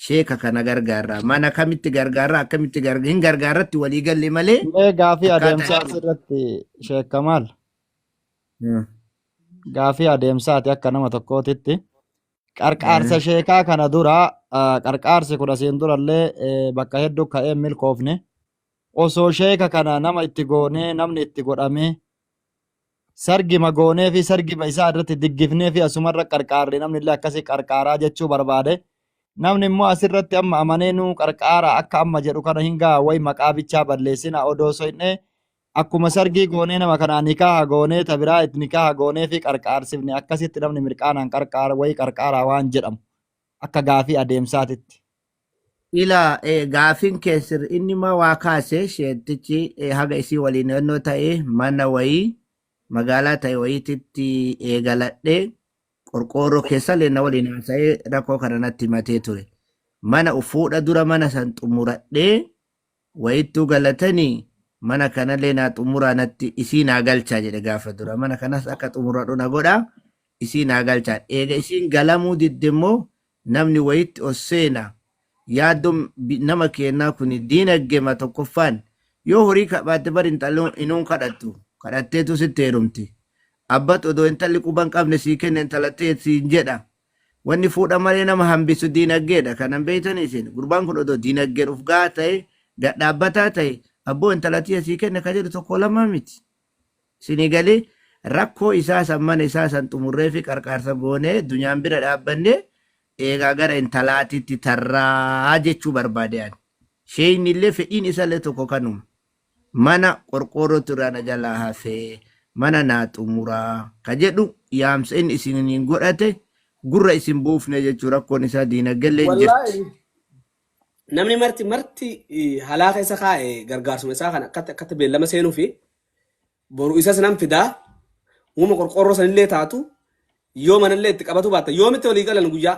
sheeka kana gargaarraa mana kamitti gargaarraa akkamitti garga hin gargaarratti walii galle malee Mee gaafii akkaataa adeemsaa itti asirratti sheekka maal? Hmm. Gaafii adeemsaati akka nama tokkootitti. Qarqaarsa Hmm. sheekaa kana dura ah, qarqaarsi kun asiin durallee eh, bakka hedduu ka'ee hin milkoofne. osoo sheeka kana nama itti goonee namni itti godhamee sargima goonee fi sargima isaa irratti diggifnee fi asumarra qarqaarre namni illee akkasii qarqaaraa jechuu barbaade namni immoo asirratti amma amanee nuu qarqaara akka amma jedhu kana hin ga'a wayi maqaa bichaa balleessina odoo soyne akkuma sargii goonee nama kanaa nikaaha goonee tabiraa nikaaha goonee fi qarqaarsifne akkasitti namni mirqaanaan qarqaara wayi qarqaaraa waan jedhamu akka gaafii adeemsaatitti. Ila, e, gaafiin kee sirri inni ma waa kaase sheettichi e, haga isii waliin ennoo ta'e mana wayii magaalaa ta'e wayiititti eegaladhe qorqoorroo keessallee na waliin haasa'ee rakkoo kana natti himatee ture mana uf fuudha dura mana san xumuradhee Wayittuu galatani mana kanalee naa xumuraa natti isii naa galchaa jedhe gaafa dura mana kanas akka xumuradhu na godha isii naa galchaa eega isiin galamuu didde immoo namni wayitti ol seena yaaddon bi nama keennaa kuni diinaggema tokkoffaan yoo horii kabaatte bar intalli inuun kadhattu kadhatteetu sitti heerumti abbat odoo intalli quban qabne sii kenna intala tee siin jedha Wanni fuudha malee nama hambisu diinaggeedha. Kana hin beektanii isin? Gurbaan kun odoo diinaggeedha uf gahaa ta'e, gad dhaabbataa ta'e, abboo intala tiyya sii kenna ka jedhu tokkoo lamaa miti. Isinii galee? Rakkoo isaa san mana isaa san xumurreefi qarqaarsa goonee dunyaan bira dhaabbannee eegaa gara intalaatitti tarraa jechuu barbaade ani. Sheeyni illee fedhiin isa illee tokko kanuma. Mana qorqoorrootu irraa na jalaa hafe, mana naa xumuraa ka jedhu yaamsa inni isiniin godhate gurra isin buufne jechuu rakkoon isaa diinaggelleen jirti. Wallaahi namni marti marti halaa keessa kaa'e gargaarsuma isaa kana akkatti akkatti beellama seenuu fi boru isas nan fidaa uuma qorqoorroo sanillee taatu yoo manallee itti qabatu baatta yoomitti walii galan guyyaa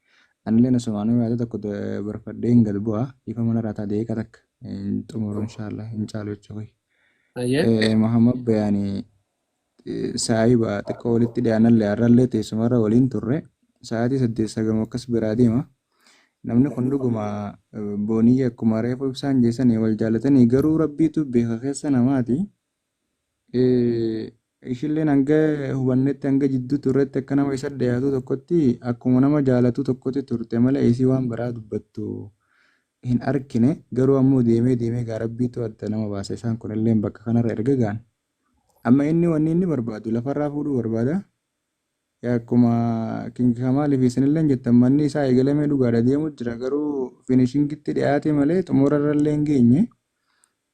Anileen asumaanuu yaada tokko barfadheen gad bu'a ifa mana raataa deeqa takka hin xumuru inshaalla hin caalu jecha koyi. Ayyee. Mahamad Bayaani saahiba xiqqoo walitti dhiyaanallee har'allee teessumarra waliin turre sa'aatii saddeet sagamu akkas biraa deema. Namni kun dhuguma booniyya akkuma reefu ibsaan jeesanii wal jaalatanii garuu rabbiitu beeka keessa namaati. ishilleen hanga hubannetti hanga jidduu turretti akka nama isa dhiyaatu tokkotti akkuma nama jaalatu tokkotti turte malee isii waan biraa dubbattu hin arkine garuu ammoo deemee deemee gaa rabbiitu adda nama baasa isaan kunilleen bakka kanarra erga ga'an amma inni wanni inni barbaadu lafarraa fuudhuu barbaada yaa akkuma kingi kamaaliif isinilleen jettan manni isaa eegalamee dhugaadha deemu jira garuu finishingitti dhiyaate malee xumurarrallee hin geenye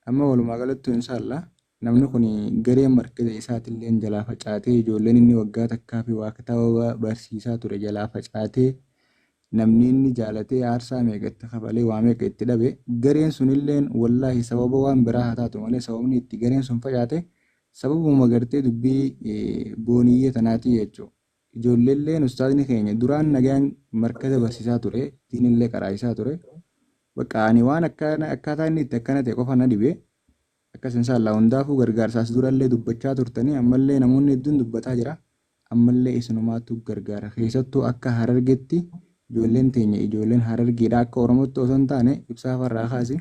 Amma walumaa galattuu inshaallaa namni kun gareen markaza isaatilleen jalaa facaatee ijoolleen inni waggaa takkaa fi waa kitaaba barsiisaa ture jalaa facaatee namni inni jaalatee aarsaa meeqa itti kafalee waa meeqa itti dhabe gareen sunilleen wallaahi sababa waan biraa haa taatu malee sababni itti gareen sun facaate sababuma gartee dubbii booniyyee tanaatii jechuu Ijoolleelleen ustaazni keenya duraan nagayaan markaza barsiisaa ture, diinillee qaraayisaa ture. Baqqaa ani waan akkana akkaataa inni itti akkana ta'e qofa na dhibe. Akkas inshaallah hundaafuu gargaarsa as durallee dubbachaa turtanii ammallee namoonni hedduun dubbataa jira. Ammallee isinumaatu gargaara. Keessattuu akka Harargetti ijoolleen teenya ijoolleen Harargeedha akka Oromootti osoo hin taane ibsaa farraa kaasi.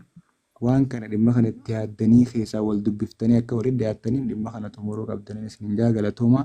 Waan kana dhimma kana itti yaaddanii keessaa wal dubbiftanii akka walitti dhiyaattaniin dhimma kana xumuruu qabdaniin isin hin jaa galatoomaa.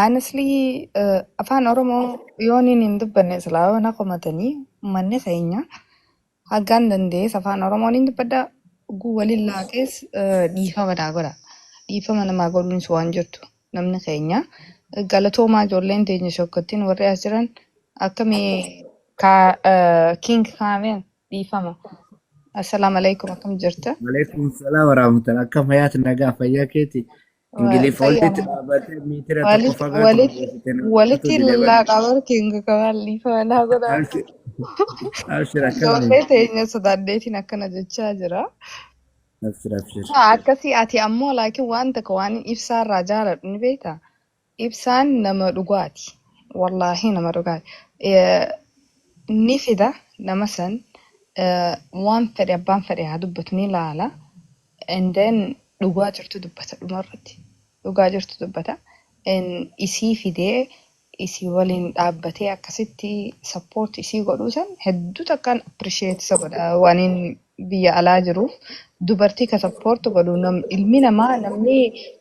Honestly, eh, afaan Oromoo yooniin hin dubbanne silaa yoo na komatanii uummanni keenya haggaan dandees afaan Oromoon hin dubbadha. Oguu waliin laaqees eh, dhiifama naa godha. Dhiifama namaa godhuunis waan jirtu namni keenya. Eh, Galatoomaa ijoolleen teenya shokkottiin warri as jiran akkamii ka eh, King Kaameen dhiifama. Assalaamu alaikum akkam jirta? Waalaikum salaam warahmatullahi akka fayyaatti nagaa fayyaa keeti Ingiliif olditti Fayyaa. dhaabatee miitira tokko Walitti fagaatu walitti barreessite na fudhatu walitti dide bani. laaqabar kinga kamaan liifaa naa godhaa. Abshir abshir akkami. Ijoollee teenya sodaaddeetiin akkana jechaa jira. Abshir abshir. Haa akkasii ati ammoo laakiin waan takka waan ibsaarraa jaaladhu ni beektaa? Ibsaan nama dhugaati. Wallaahi nama dhugaati. Eh, Ni fida nama san eh, waan fedhe abbaan fedhe haa dubbatu ni laala. and then dhugaa jirtu dubbata dhuma irratti dhugaa jirtu dubbata and isii fidee isii waliin dhaabbatee akkasitti support isii godhuu san hedduu takkaan appreciate isa godha waaniin biyya alaa jiruuf dubartii ka support godhu nam, ilmi namaa namni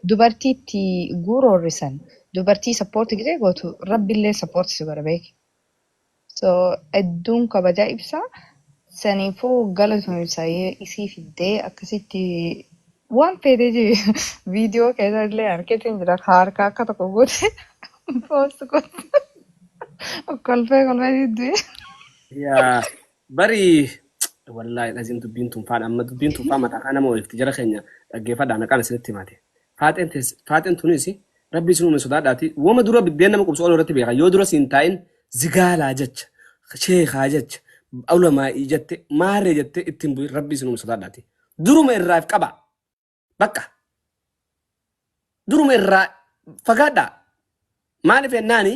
dubartii itti guuroorrisan dubartii support gidee gootu rabbillee support si godha beeki. So edduun kabajaa ibsa saniifu galatomi saye isii fiddee akkasitti waan feetee jiru viidiyoo keessa illee arkeetiin jira ka harka akka tokko godhe poost godhe kolfee kolfee diddu'e. Yaa Bari wallahi lazim dubbiin tun faan amma dubbiin tun faan mataa kaa nama oolfti jara keenya dhaggeeffadha naqaan isinitti himaate. Faaxeen tees faaxeen tunis rabbi isin uume sodaadhaati wama dura biddeen nama qubsu ol irratti beeka yoo dura siin taa'in zigaalaa jecha sheekaa jecha ulamaa'ii jette maarree jette ittiin bu'in rabbi isin uume sodaadhaati. Duruma irraaf qaba bakka duruma irraa fagaadha maaliif jennaani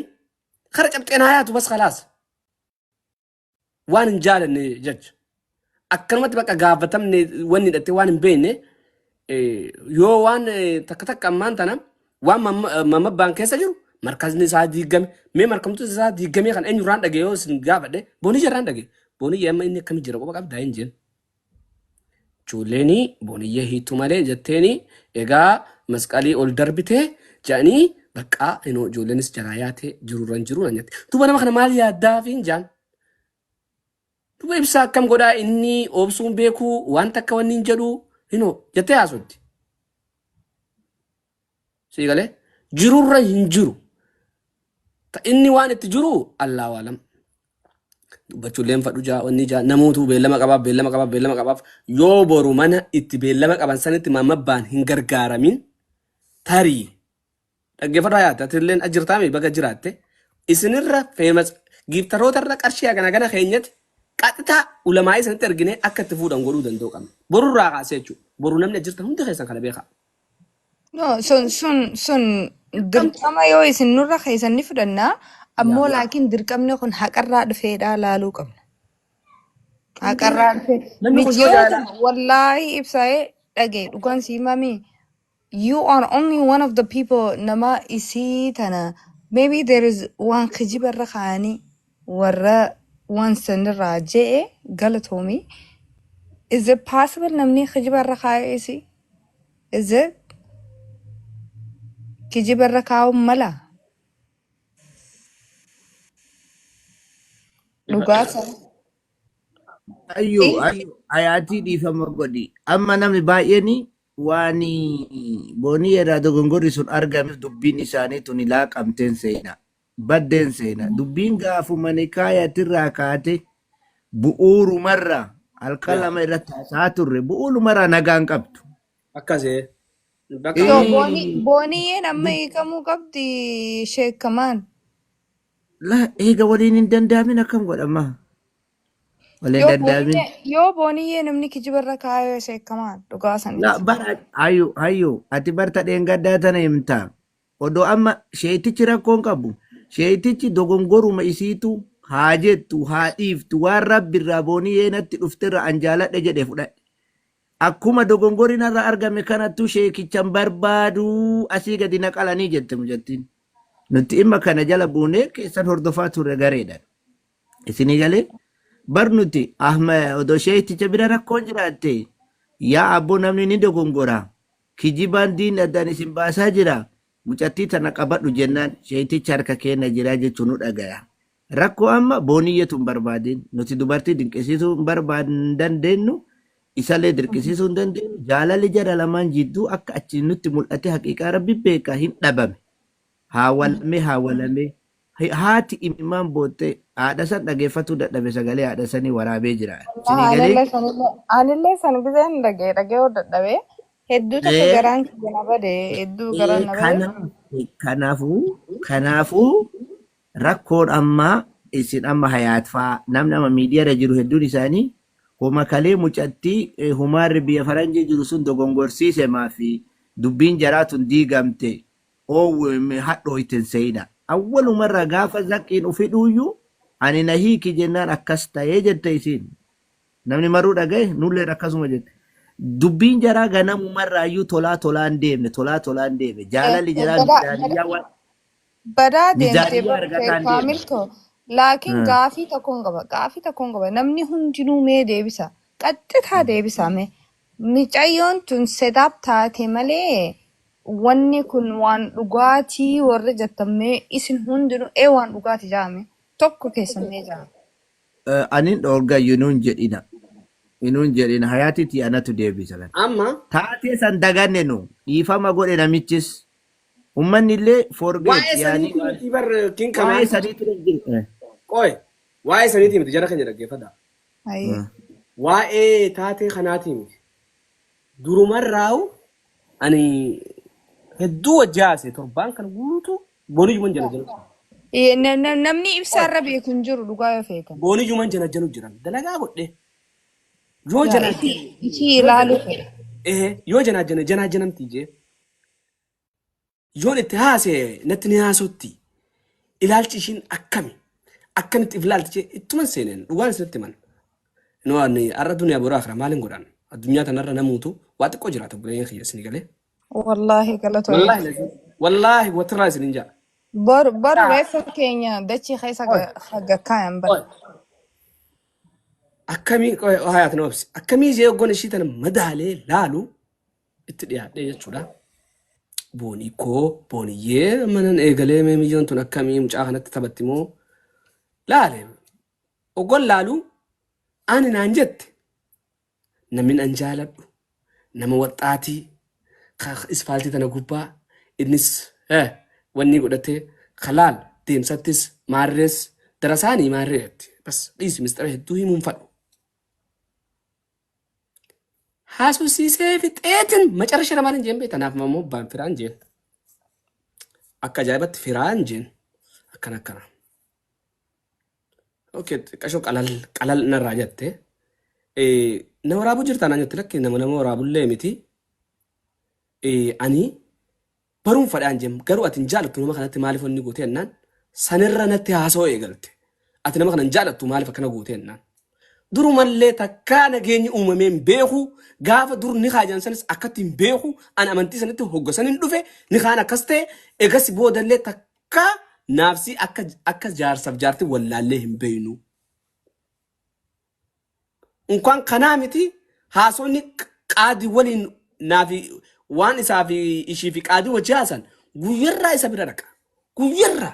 kara cabxeen haayaatu bas kalaas. waan hin jaalanne jecha. Akkanumatti bakka gaafatamne wanni hidhattee waan hin beekne eh, yoo waan eh, takka takka ammaan tana waan mamma- eh, mammabbaan keessa jiru markazni isaa diigame mee markamtuun isaa diigamee kan eenyurraan dhagee yoo isin gaafadhe boonii jarraan dhagee boonii amma inni akkamii jira qofa qabdaa hin jeen. Ijoolleeni Boniyyee hiittu malee jetteeni egaa masqalii ol darbite jedhanii baqqaa inoo ijoolleenis jalaa yaate jirurran jiru nan jette. Duba nama kana maal yaaddaafiin jaan? Duba ibsaa akkam godhaa inni obsuun beekuu wanta akka wanni hin jedhu inoo jettee haasofti. Sii galee? Jirurra hin jiru. Ka inni waan itti jiru Allaa waalam. Dubbachuullee hin fadhu jaa wanni jaa namootu beellama qabaaf beellama qabaaf beellama qabaaf yoo boru mana itti beellama qaban sanitti maammabbaan hin gargaaramin tarii dhaggeeffadhu hayaatti atilleen ajirtaame baga jiraatte isinirra feemas giiftarootarra qarshii hagana gana keenyatti qaxxitaa ulamaa isanitti erginee akka itti fuudhan godhuu danda'u qabna. Borurraa kaasee jechuudha. Boru namni ajirtan hundi keessan kana beekaa. No, sun sun sun Dirqamti. dirqama yoo isin nurra keessan ni fudhanna yaa ammoo yaa laakiin dirqamni kun haqarraa dhufeedha laaluu qabna hunduu haqarraa dhufe namni kun yoo michiyoo jaala tana wallaahi ibsaa'ee dhagee dhugaan sii mamii you are only one of the people nama isii tana maybe there is waan kijiba irra kaa'anii warra waan sanirraa je'e galatoomi is it possible namni kijiba irra kaa'e isi is it kijiba irra kaa'uun mala dhugaa sana Ayyuu dhiisa ayyuu ayaatii dhiifama godhi. Amma namni baay'een waan boonii irraa dogongorri sun argameef dubbiin isaanii tuni laaqamteen seenaa. baddeen seena. Dubbiin gaafuma nikaayatirraa kaate bu'uurumarra halkan Yaa. lama irratti haasa'aa turre bu'uurumarraa nagaan qabdu. Akkasee. Bakka So Ii. booni booniyyeen amma hiikamuu qabdi sheekamaan. La eega waliin hin dandaamin akkam godhama? Waliin Yoo dandaamin. booniyyee yoo booniyyee namni kijibarra kaayoo sheekamaan dhugaa La saniiti. bara hayyuu hayyuu ati barta dheengaddaa tana himtaa. Odoo amma sheeytichi rakkoo hin qabu. Sheeytichi dogongoruma isiitu haa jettu haa dhiiftu waan rabbi irraa booniyee natti dhufterra an jaaladhe jedhe fudhadhe. Akkuma dogongori narra argame kanattu sheekichan barbaadu asii gadi na qalanii jette mucattiin. Nutti imma kana jala buunee keessan hordofaa turre gareedhan. Isinii galee bar nuti ahma odoo sheeyticha bira rakkoon jiraatte yaa abboo namni ni dogongora. Kijibaan diinni addaan isin baasaa jira, mucattii tana qabadhu jennaan sheeytichi harka keenna jira jechu nu dhagaya. Rakkoo amma booniyyatu hin barbaadin, nuti dubartii dinqisiisuu hin barbaad hin dandeennu, isallee dirqisiisuu hin dandeennu, jaalalli jara lamaan jidduu akka achi nutti mul'atee haqiiqaa Rabbi beeka hin dhabame. Haa walame haa walame. Haati imimmaan bootte haadhasan dhageeffatuu dadhabe sagalee haadhasanii waraabee jira. Wallahi Sinii galee? anillee sanillee anillee san giseen dhagee dhagayuu dadhabee hedduu takka Ee, garaan kiyya na bade hedduu ee, garaan na bade kanaaf- kanaafuu kanaafuu rakkoon ammaa isin amma hayaatfaa namni amma miidiyaarra jiru hedduun isaanii homa kalee mucattii eh, humaarri biyya faranjii jiru sun dogongorsiise maafi dubbiin jaraa tun diigamte Owm hadho itti hin seeyina. Awwalumarraa gaafa zakkiin ufi dhuuyyu ani na hiiki jennaan akkas taye jette isiin. Namni marruu dhagaye nulleen akkasuma jette. Dubbiin jaraa ganamumarraayyuu tolaa tolaan deemne tolaa tolaan deeme jaalalli Deemte jaraa badaa mizaaniyyaa badaa waan badaa deemte mizaaniyyaa bar argataan deeme. kaamil too laakiin Hmm. gaafii tokkoon qaba gaafii tokkoon qaba namni hundinuu mee deebisa qaxxitaa deebisa mee Micayyoon tun set up taate malee wanni kun waan dhugaati warri jettan mee isin hundinu ee waan dhugaati ja'a mee tokko keessan mee ja'a. Anin dhoorga you nun jedhina nun jedhina hayati tii anatu deebisa kan. Amma. Taatee san daganne nu. Dhiifama godhe namichis. Ummanni illee forget Waa'ee yaanii saniitii waan. miti bar king waa'ee kamaal. saniitu hin jiru. Qoy. Waa'ee saniitii miti jara keenya dhaggeeffadhaa. Hayee. Waa'ee taatee kanaatii miti. Durumarraa'u ani hedduu wajji haasa'e torbaan kana guutuu boonijuman janajanu ture. Ee, na- na- Namni Qoy ibsaarra beeku hin jiru dhugaa yoo feetan. boonijuman janajanu jiran dalagaa godhe yoo Yaa itii janaajjane itii yoo ilaaluu jana fedhe. ehe yoo janaajjane janaajanamti jee Yoon itti haasa'e natti ni haasotti. Ilaalchi ishiin akkami? Akkamitti if ilaalti jee ittuman seeneen dhugaan isinitti himan. Noo ani har'a duniyaa boru akira maal hin godhan? Addunyaa tanarra namuutu waa xiqqoo jiraata buleen kiyya isinii galee. Wallaahi galatoomi. Wallaahi lazim. Wallaahi watirraa isinin jaa. Boru boru reeffa keenya dachii keessa Oy, ga- ha- gakkaayan bar. oy. Akkamii qoy hayaat na obsi. Akkamii jee oggoon ishii tana madaalee laalu itti dhiyaadhee jechuudha. Boonii koo booniyyee manan eegalee mee miyyoon tun akkamii mucaa kanatti taphatti moo laale ogol laalu ani naan jette namni an jaaladhu nama waxxaatii ka ispaaltii tana gubbaa innis eh, wanni godhatee ka laal deemsattis maarrees darasaanii maarree jetti bas dhiisi mistira hedduu himuun fadhu haasofsiisee fixeetin macarrasha irra maaliin jeen beekta naaf immoo baan firaan jeen akka ajaa'ibatti firaan jeen akkana akkana okay xiqqashoo qalal qalal narraa jette Eh, na waraabuu jirtaa naan jette lakki nama nama waraabullee miti Eh, ani Baruun fadhaan jem garuu ati hin jaalattu nama kanatti maaliif wanni gootee ennaan sanirra natti haasa'uu eegalte. Ati nama kana hin jaalattu maaliif akkana gootee ennaan. Durumallee takkaa nageenyi uumamee hin beeku gaafa dur nikaa jedhan sanis akkatti hin beeku an amantii sanitti hogga sanin dhufe nikaan akkas ta'e egas boodallee takkaa naafsii akka akka jaarsaf jaarti wallaallee hin beeynu. Unkaan kanaa miti haasofni qaadi waliin naafi waan isaa fi ishii fi qaadi wajji haasan guyyarraa isa bira dhaqa. Guyyarraa.